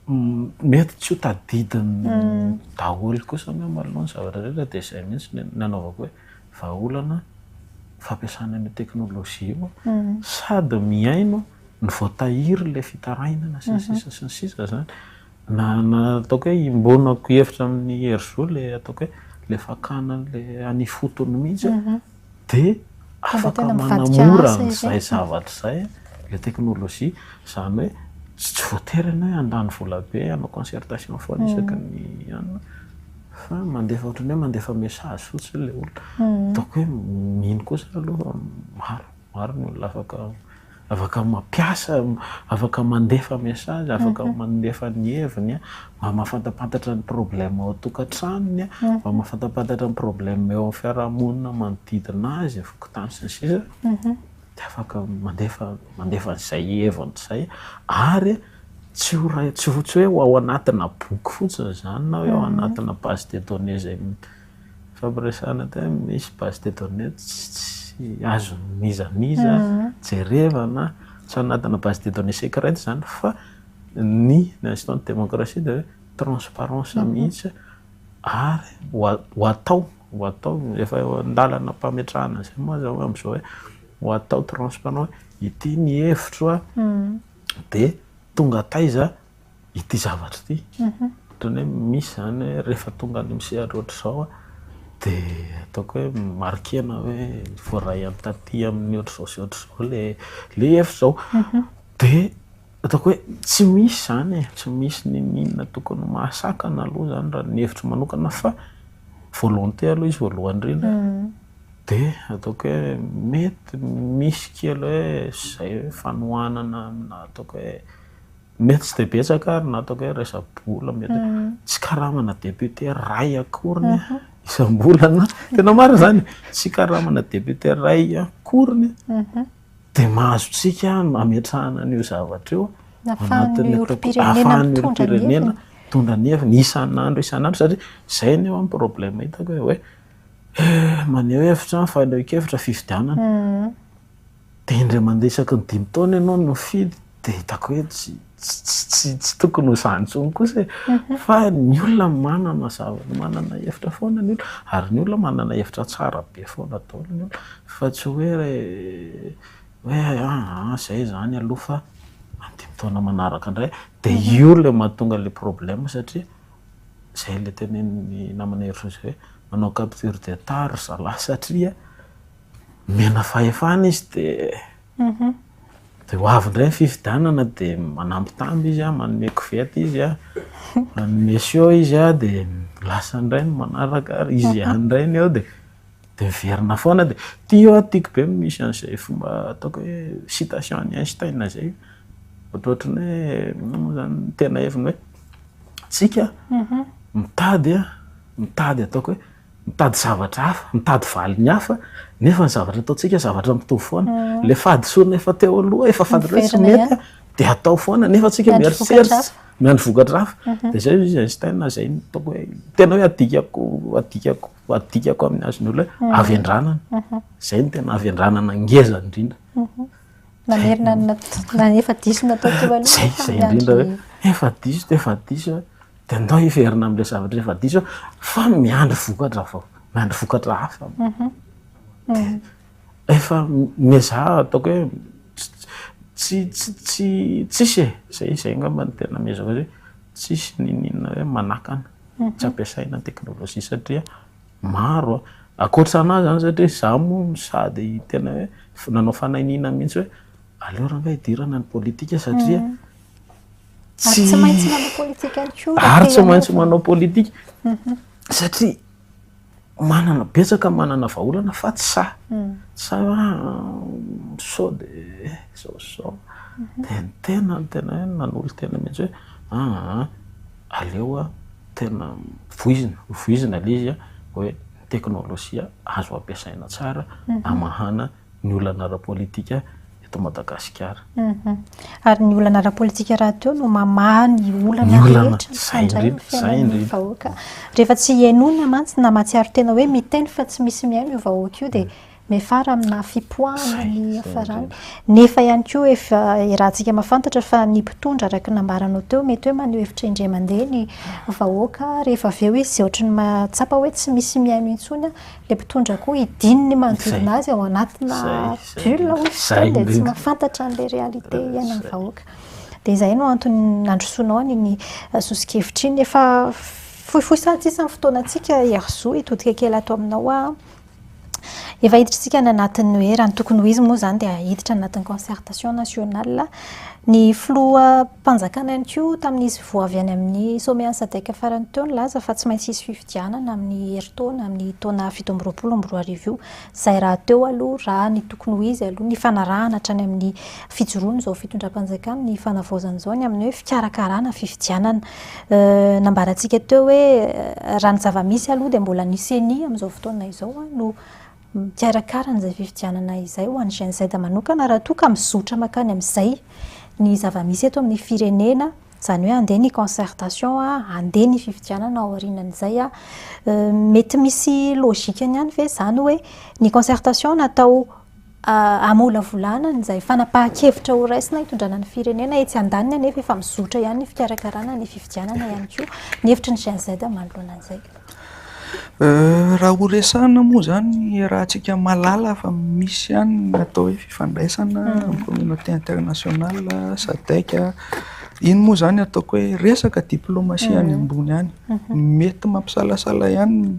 Mety tsy ho tadidiny daholo kosa anie malou ny zavatra rehetra dia izay mihitsy ny nanaovako hoe vahaolana fampiasana an'io teknolojia io sady mihaino ny voatahirin'ilay fitarainana sy ny sisa sy ny sisa izany na nataoko hoe iombonako hevitra amin'ny hery zo ilay ataoko hoe ilay fakana an'ilay any ifotony mihitsy. dia afaka manamora an'izay zavatra izay ilay teknolojia. Izany hoe tsy voatery ianao hoe handany vola be hanao concertation foana isaky ny anona, fa mandefa ohatran'ny hoe mandefa message fotsiny ilay olona. Ataoko hoe mino kosa aloha fa maro, maro ny olona afaka. Afaka mampiasa, afaka mandefa message, afaka mandefa ny heviny mba mahafantapantatra ny problème ao an-tokantranony, mba mahafantapantatra ny problème eo amin'ny fiarahamonina manodidina azy, fokontany sy ny sisa dia afaka mandefa mandefa an'izay heviny izay ary tsy ho ray tsy ho tsy hoe ao anatina boky fotsiny izany na hoe ao anatina base de données izay Fampiresahana tena misy base de données tsy azo n'iza n'iza jerevana, tsy anatina base de données secrète izany fa ny instant de démocratie dia hoe transparence mihitsy ary ho atao ho atao efa eo an-dalana am-pametrahana izay moa aza hoy amin'izao hoe ho atao transparent hoe ity ny hevitro dia tonga taiza. ity zavatra ity. Ohatran'ny hoe misy izany hoe rehefa tonga any amin'ny sehatra ohatr'izao aho dia ataoko hoe marquer-na hoe voaray any taty amin'ny ohatr'izao sy ohatr'izao ilay ilay hevitra izao. Dia ataoko hoe tsy misy izany e, tsy misy n'inon'inona tokony ho mahasakana aloha izany raha ny hevitro manokana fa volonté aloha izy voalohany indrindra. Dia ataoko hoe mety misy kely hoe izay hoe fanohanana aminà ataoko hoe. Mety tsy dia betsaka ary na ataoko hoe resa-bola mety tsy karamana député iray akoriny isam-bolana, tena marina izany e, tsy karamana député iray akoriny dia mahazo antsika hametrahana an'io zavatra io anatin'ny ahafahan'ny olom-pirenena mitondra ny heviny isan'andro isan'andro satria izay anie ho'a ny problème hitako hoe maneho hevitra, fanehoan-kevitra, fifidianana. Dia indray mandeha isaky ny dimy taona ianao no mifidy dia hitako hoe tsy tsy tsy tokony ho izany intsony kosa e. Mhm. Fa ny olona manana zavatra, manana hevitra foana ny olona. Ary ny olona manana hevitra tsara be foana daholo ny olona. Fa tsy hoe hoe aa izay izany aloha fa amin'ny dimy taona manaraka indray. Dia mhm. io ilay mahatonga ilay problème satria izay ilay tenenin'ny namana Hery Josy hoe manao capture de tard ry zalahy satria Omena fahefana izy dia dia ho avy indray ny fifidianana dia manambitamby izy an, manome koveta izy an, manome show izy an dia lasa indray ny manaraka ary izy ihany indray ny eo dia dia miverina foana dia ity an tiako be ny misy an'izay fomba ataoko hoe citation an'i Einstein izay ohatrohatry ny hoe inona moa izany ny tena heviny hoe tsika mitady an mitady ataoko hoe mitady zavatra hafa, mitady valiny hafa, nefa ny zavatra ataontsika zavatra mitovy foana. Mm. Le fahadisoana efa teo aloha, efa fantatro hoe tsy mety, de atao foana, nefa antsika mieritreritra, miandry vokatra hafa. Mhm. De zay izy Einstein zay ny toko hoe tena hoe adikako, adikako, adikako amin'ny azon'ny olona hoe mhm. avy andranana. Mhm. Zay ny tena avy andranana ngeza indrindra. Mamerina na efa diso natao teo aloha. Zay, zay indrindra hoe efa diso, efa diso. Dia ndao hiverina amin'ilay zavatra efa diso fa miandry vokatra vao, miandry vokatra hafa. Mhm. Efa miezaha ataoko hoe tsy tsy tsy tsisy e, zay zay angamba ny tena miezaka hoe tsisy niniana hoe manakana, mhm. tsy ampiasaina ny teknolojia satria maro a. Ankoatra an'azy zany satria za moa sady tena hoe nanao fanahiniana mihitsy hoe aleo rangah hidirana ny politika satria mhm. Ary tsy maintsy manao politika ihany koa. Ary tsy maintsy manao politika. Mhm. Satria manana betsaka manana vahaolana fa tsy sahy. Mhm. Sa sao de sao sao. Mhm. Dia ny tena ny tena hoe nanolo tena mihitsy hoe aa aleo a tena voizina voizina ilay izy a hoe ny teknolojia azo ampiasaina tsara hamahana. ny olana ara-politika eto Madagasikara. Ary ny olana ara-politika rahateo no mamaha ny olana rehetra mifandray amin'ny fiainan'ny vahoaka. Rehefa tsy henoina mantsy na mahatsiaro tena hoe miteny fa tsy misy mihaino io vahoaka io dia miafara amina fipoahana ny hiafarany. Nefa ihany koa efa iarahantsika mahafantatra fa ny mpitondra araka ny nambaranao teo mety hoe maneho hevitra indray mandeha ny vahoaka rehefa avy eo izy ohatran'ny mahatsapa hoe tsy misy mihaino intsony Ilay mpitondra koa hidiny ny manodidina azy ao anatina bulle hoy izy itony dia tsy mahafantatra an'ilay réalité iainan'ny vahoaka. Dia izay no antony nandrosoanao an'iny sosokevitra iny. Efa fohifohy sady sisa ny fotoanantsika Hery Zo, hitodika kely ato aminao aho. Efa hiditra isika any anatin'ny hoe raha ny tokony ho izy moa izany dia hiditra anatin'ny concertation nationale. Ny filoham-panjakana ihany koa tamin'izy vao avy any amin'ny sommet an'i Sadc farany teo nilaza fa tsy maintsy hisy fifidianana amin'ny herintaona, amin'ny taona fito amby roapolo amby roa arivo io. Izay rahateo aloha, raha ny tokony ho izy aloha, nifanarahana hatrany amin'ny fijoroan'izao fitondram-panjakana ny fanavaozana izao ny amin'ny hoe fikarakarana fifidianana. Nambarantsika teo hoe raha ny zava-misy aloha dia mbola ny Ceni amin'izao fotoana izao no Mikarakara an'izay fifidianana izay ho an'ny GNZ manokana raha toa ka mizotra mankany amin'izay ny zava-misy eto amin'ny firenena, izany hoe handeha ny concertation, handeha ny fifidianana aorianan'izay. Mety misy logikany ihany ve izany hoe ny concertation natao hamolavolana an'izay fanapahan-kevitra ho raisina hitondrana ny firenena, etsy andaniny anefa efa mizotra ihany ny fikarakarana ny fifidianana ihany koa ny hevitry ny GNZ manoloana an'izay. Raha ho resahana moa izany ny iarahantsika mahalala fa misy ihany ny atao hoe fifandraisana amin'ny communauté internationale, Sadec. Iny moa izany ataoko hoe resaka diplomasia any ambony any. Mety mampisalasala ihany ny,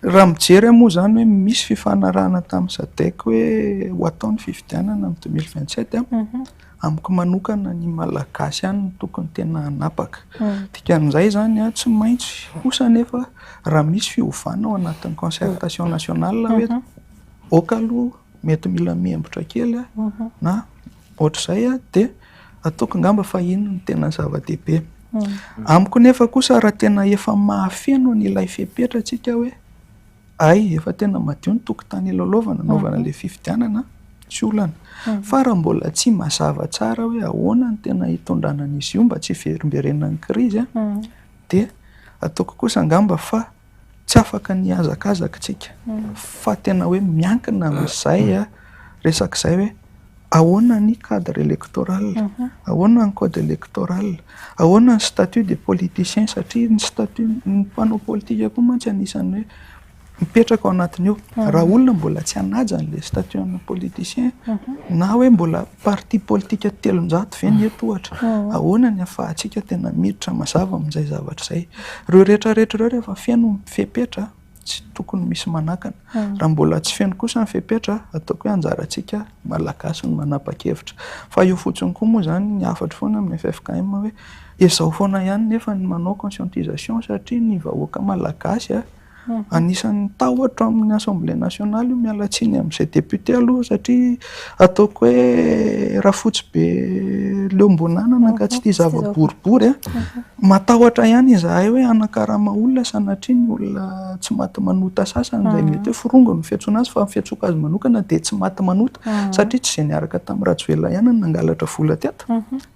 raha mijery aho moa izany hoe misy fifanarahana tamin'ny Sadec hoe ho atao ny fifidianana amin'ny deux mille vingt sept an. Amiko manokana ny Malagasy ihany no tokony tena hanapaka. Dikan'izay izany tsy maintsy kosa anefa raha misy fiovana ao anatin'ny concertation nationale hoe ok aloha mety mila mihembotra kely na ohatr'izay dia ataoko angamba fa iny no tena zava-dehibe. Amiko nefa kosa raha tena efa mahafeno an'ilay fepetra isika hoe. Hay efa tena madio ny tokotany hilalaovana hanaovana an'ilay fifidianana tsy olana fa raha mbola tsy mazava tsara hoe ahoana ny tena hitondrana an'izy io mba tsy hiverimberenan'ny krizy dia ataoko kosa angamba fa tsy afaka ny hihazakazaka isika fa tena hoe miankina amin'izay resak'izay hoe Ahoana ny cadre electoral? Ahoana ny code electoral? Ahoana ny statut des politiciens? Satria ny statut ny mpanao politika koa mantsy anisan'ny hoe mipetraka ao anatiny ao. Raha olona mbola tsy hanaja an'ilay statut an'ny politicien na hoe mbola parti politika telonjato ve ny eto ohatra? Ahoana ny ahafahantsika tena miditra mazava amin'izay zavatra izay? Ireo rehetra rehetra ireo rehefa feno ny fepetra. tsy tokony misy manakana. Raha mbola tsy feno kosa ny fepetra, ataoko hoe anjarantsika Malagasy no manapa-kevitra. Fa eo fotsiny koa moa izany, ny hafatro foana amin'ny ffkm hoe ezahao foana ihany nefa ny manao conscientisation satria ny vahoaka Malagasy anisan'ny tahotra amin'ny Assemblée nationale io, miala tsiny amin'izay député aloha satria. Ataoko hoe Rafotsibe Leo Mbonanana angaha tsy tia zava-boribory a. Matahotra ihany izahay hoe hanakarama olona sanatria ny olona tsy maty manota sasany izay mety hoe forongo no fiantsoana azy fa ny fiantsoako azy manokana dia tsy maty manota satria tsy izay niaraka tamin'i Rajoelina ihany no nangalatra vola teto.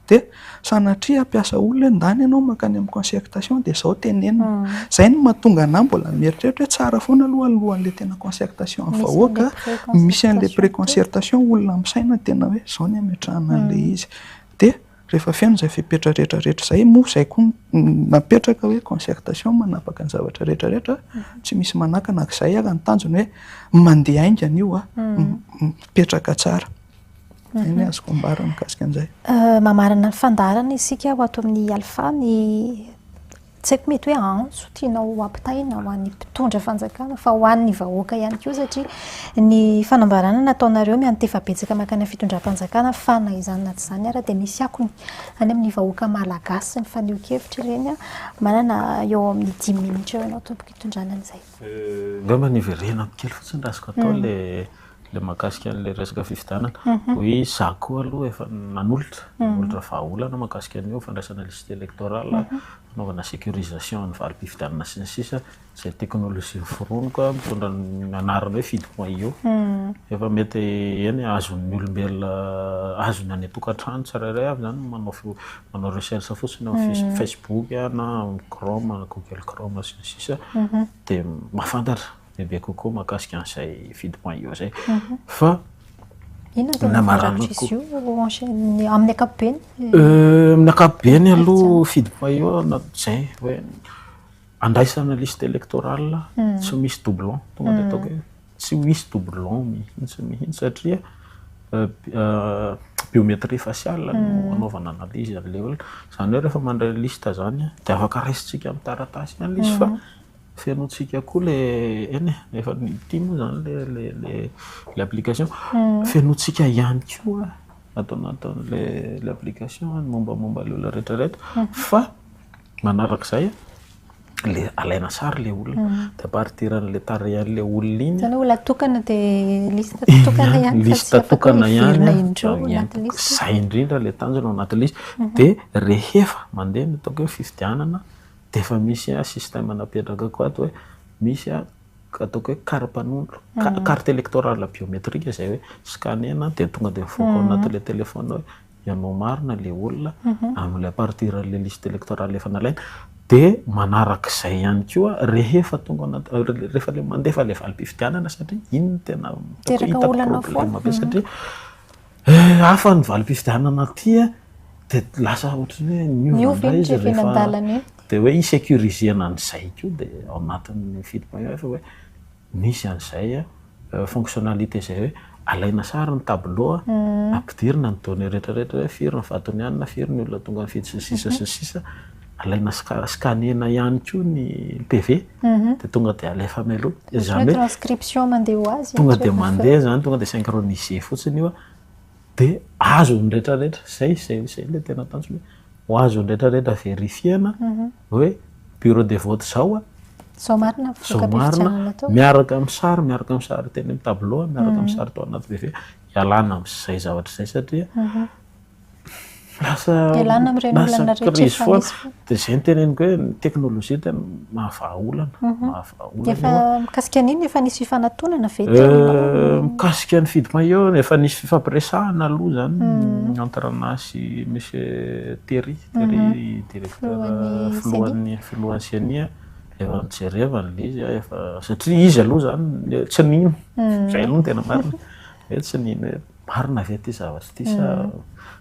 dia sanatria hampiasa olona hoe ndany ianao mankany amin'ny concertation dia izao tenenina. Izay no mahatonga anà mbola mieritreritra hoe tsara foana aloha alohan'ilay tena concertation amin'ny vahoaka misy an'ilay pré-concertation olona misaina tena hoe izao ny hametrahana an'ilay izy. Dia rehefa feno izay fepetra rehetra rehetra izay moa izay koa no napetraka hoe concertation manapaka ny zavatra rehetra rehetra tsy misy manakana ary izay ary ny tanjona hoe mandeha haingana io an, mipetraka tsara. Izay ny azoko ambara mikasika an'izay. Mamarana ny fandaharana isika ho ato amin'ny Alpha ny tsy haiko mety hoe antso tianao hampitaina ho an'ny mpitondra fanjakana fa ho an'ny vahoaka ihany koa satria ny fanambarana nataonareo miantefa betsaka mankany amin'ny fitondram-panjakana fa na izany na tsy izany ary dia misy akony any amin'ny vahoaka malagasy ny fanehoan-kevitra ireny. Manana eo amin'ny dimy minitra eo ianao tompoko hitondrana an'izay. Angamba niverenako kely fotsiny raha azoko atao ilay ilay mahakasika an'ilay resaka fifidianana. Oui, izaho koa aloha efa nanolotra, nanolotra vahaolana mahakasika an'io fandraisana liste électorale, fanaovana sécurisation ny valim-pifidianana sy ny sisa, izay teknolojia noforoniko mitondra ny anarana hoe Fidco-io. Efa mety eny azon'ny olombelona, azon'ny any an-tokantrano tsirairay avy izany ny manao manao recherche fotsiny ao am facebook na am chrome na google chrome sy ny sisa de mahafantatra bebe kokoa mahakasika an'izay vide point io zay fa Inona tena farak'izay io amin'ny ankapobeny? Amin'ny ankapobeny aloha feed point io zay hoe andraisana liste électorale tsy misy doublon tonga dia ataoko hoe Tsy ho hisy doublon mihitsy mihitsy satria biométrie faciale no anaovana analyse an'ilay olona. Izany hoe rehefa mandray liste izany dia afaka raisintsika amin'ny taratasy ihany ilay izy fa fenointsika koa ilay eny e, efa ity moa izany ilay application, fenointsika ihany koa ato anatin'ilay application ny mombamomba ilay olona rehetra rehetra fa Manarak'izay, le alaina sary le olona, de amparitiran'le tarehan'le olona iny. Zany hoe olona tokana de liste tokana ihany fa tsy afaka hoe hiverina indreo anaty liste. Zay indrindra le tanjona ao anaty liste. De rehefa mandeha ny ataoko hoe fifidianana de efa misy système napetraka koa ato hoe misy ataoko hoe karapanondro, carte électorale biométrique zay hoe scanner-na de tonga de mivoaka ao anatin'le téléphone hoe ianao marina le olona amle à partir le liste electorale efa nalaina de manarak'izay ihany koa rehefa tonga anaty rehefa le mandefa le valim-pifidianana satria iny no tena hitako problème be satria hafa ny valim-pifidianana aty a de lasa ohatran'ny hoe niova indray izy rehefa de hoe hi-sécurisena an'izay koa de ao anatin'ny fidim-panjakana hoe Misy an'izay fonctionnalité zay hoe alaina sary ny tableau a, ampidirina ny données rehetra rehetra hoe firy ny vadonianina, firy ny olona tonga nifidy sy ny sisa sy ny sisa, alaina scanner-na ihany koa ny PV dia tonga dia alefa mialoha. Izany hoe transcription mandeha ho azy. Tonga dia mandeha izany, tonga dia synchroniser fotsiny io a, dia azon'ny rehetra rehetra. Izay, izay, izay ilay tena tanjona e. Ho azon'ny rehetra rehetra verifiena hoe bureau de vote izao a. Izao marina ny voka-pifidianana tao. Miaraka amin'ny sary, miaraka amin'ny sary teny amin'ny tableau, miaraka amin'ny sary tao anaty BV, ialana amin'izay zavatra izay satria lasa ialana amin'ireny olana rehetra efa misy. Dia izay no teneniko hoe ny teknolojia tena mahavaha olana. Efa mikasika an'iny efa nisy fifanatonana ve teo? Euh, mikasika ny fidy maillot efa nisy fifampiresahana aloha zany hmm. entre anah sy monsieur Terry, Terry mhm. directeur filohan'ny filohan'ny CENI efa nijerevana ilay izy efa satria izy aloha zany tsy nino hmm. zay aloha ny tena marina hoe tsy nino hoe marina ve ity zavatra ity sa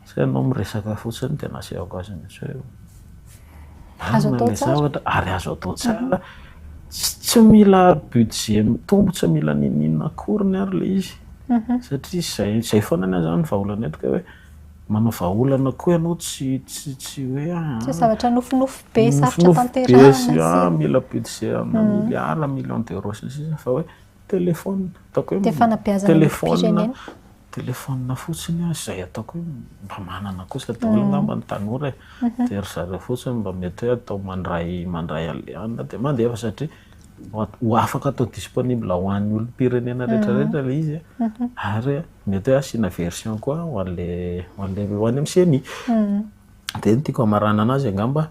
sa ianao miresaka fotsiny dia nasehoko azy mihitsy hoe Azo marina atao ilay tsara. zavatra ary azo atao tsara. Tsy tsy mila budget mitombo, tsy mila ninoninona akoriny ary ilay izy satria izay izay foana ny ahy izany ny vahaolana eto ka hoe manao vahaolana koa ianao tsy tsy tsy hoe ah, Tsy zavatra nofinofy be sarotra nofinofy be sy tanterahina ah, sy mila budget amina milliard, millions d'euros sy ny sisa fa hoe Téléphone, ataoko hoe. Dia fanabeazana ny firenena. Téléphone fotsiny an, izay ataoko hoe mba manana kosa daholo angamba ny tanora e. Dia ry zareo fotsiny mba mety hoe atao mandray, mandray alehany dia mandefa satria ho afaka atao disponible ho an'ny olom-pirenena rehetra rehetra ilay izy an. Ary mety hoe asiana version koa ho an'ilay, ho an'ilay, ho any amin'ny ceni. Dia ny tiako hamaranana azy angamba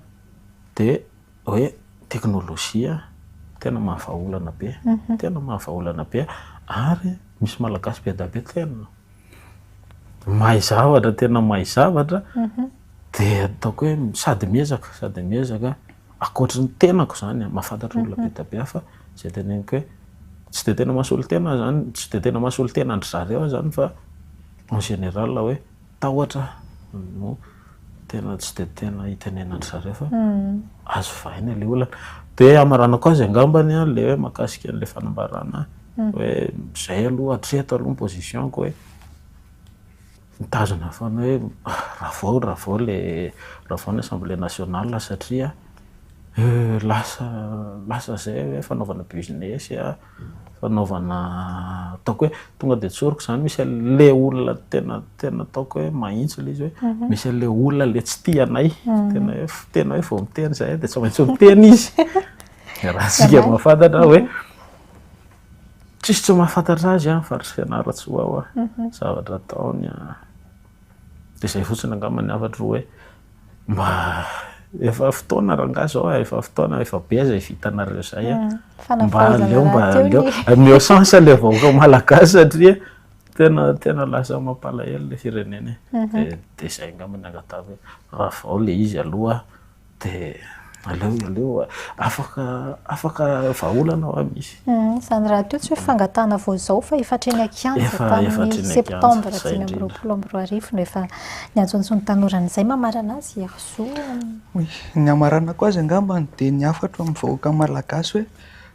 dia. hoe teknolojia tena mahavahaolana be, tena mahavahaolana be ary misy malagasy be dia be tena mahay zavatra, tena mahay zavatra dia ataoko hoe sady miezaka, sady miezaka, ankoatry ny tenako izany an, mahafantatra olona be dia be aho fa izay teneniko hoe tsy dia tena maha solontena aho izany, tsy dia tena maha solontena an-dry zareo aho izany fa en général hoe. tahotra no tena tsy dia tena hitenenandry zareo fa azo vahina ilay olana. Dia hamaranako azy angambany ilay hoe mahakasika an'ilay fanambarana hoe izay aloha hatreto aloha ny position-ko hoe mitazona foana hoe ravao ravao ilay ravao ny assemblée nationale satria lasa lasa izay hoe fanaovana business. fanaovana ataoko hoe tonga dia tsoriko izany, misy an'ilay olona tena tena ataoko hoe mahitsy ilay izy hoe, misy an'ilay olona ilay tsy tia anay, tena hoe tena hoe vao miteny izahay dia tsy maintsy miteny izy, dia raha isika mahafantatra hoe tsisy tsy mahafantatra azy fa ry fianarantsoa ho'a zavatra ataony. de zay fotsiny angamba ny hafatro hoe mba efa fotoana rangahy zao a, efa fotoana efa be aza i vitanareo zay a, mba aleo mba aleo ameo chance le vahoaka malagasy satria tena tena lasa mampalahelo le firenena e, de zay angamba ny angatahako hoe ravao le izy aloha. Dia aleo aleo afaka afaka vahaolana hoa misy. Izany rahateo tsy hoe fangatahana vao izao fa efa hatreny an-kianja tamin'ny septambra dimy amby roapolo amby roa arivo no efa niantsoantsoin'ny tanora an'izay. Mamarana azy i Herzou. Ny hamaranako azy angamba dia ny hafatro amin'ny vahoaka malagasy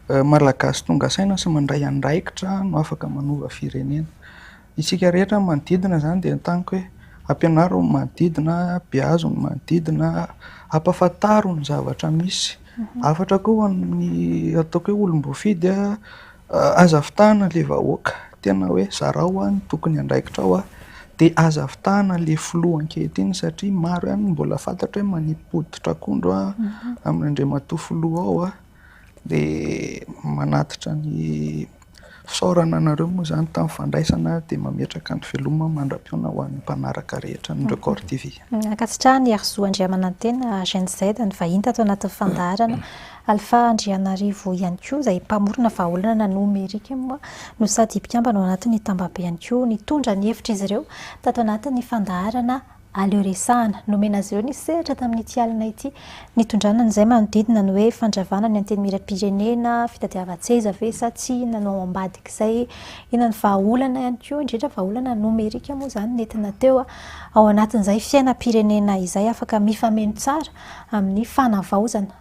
hoe Malagasy tonga saina sy mandray andraikitra no afaka manova firenena. Isika rehetra ny manodidina izany dia entaniko hoe ampianaro ny manodidina, beazo ny manodidina, ampahafantaro ny zavatra misy. Hafatra koa ho an'ny ataoko hoe olom-boafidy, aza vitahana ilay vahoaka, tena hoe zarao ny tokony andraikitra ao, dia aza vitahana ilay filoha ankehitriny satria maro ihany ny mbola fantatra hoe manipy hoditra akondro amin'Andriamatoa Filoha ao. dia manatitra ny fisaorana anareo moa izany tamin'ny fandraisana dia mametraka ny veloma mandra-pihaona ho an'ny mpanaraka rehetra ny Record TV. Ankasitrahan' ny Herizo Andriamanantena, Gen Z, ny vahiny tato anatin'ny fandaharana. Alpha Andrianarivo ihany koa izay mpamorona vahaolana nomerika moa no sady mpikambana ao anatin'ny tambabe ihany koa nitondra ny hevitr'izy ireo tato anatin'ny fandaharana Aleo resahana. Nomena azy ireo ny sehatra tamin'ity alina ity. Nitondrana an'izay manodidina ny hoe fandravana ny antenimieram-pirenena, fitadiavan-tseza ve sa tsia, inona no ao ambadik'izay, inona ny vahaolana ihany koa, indrindra vahaolana nomerika moa izany nentina teo ao anatin'izay fiainam-pirenena izay afaka mifameno tsara amin'ny fanavaozana.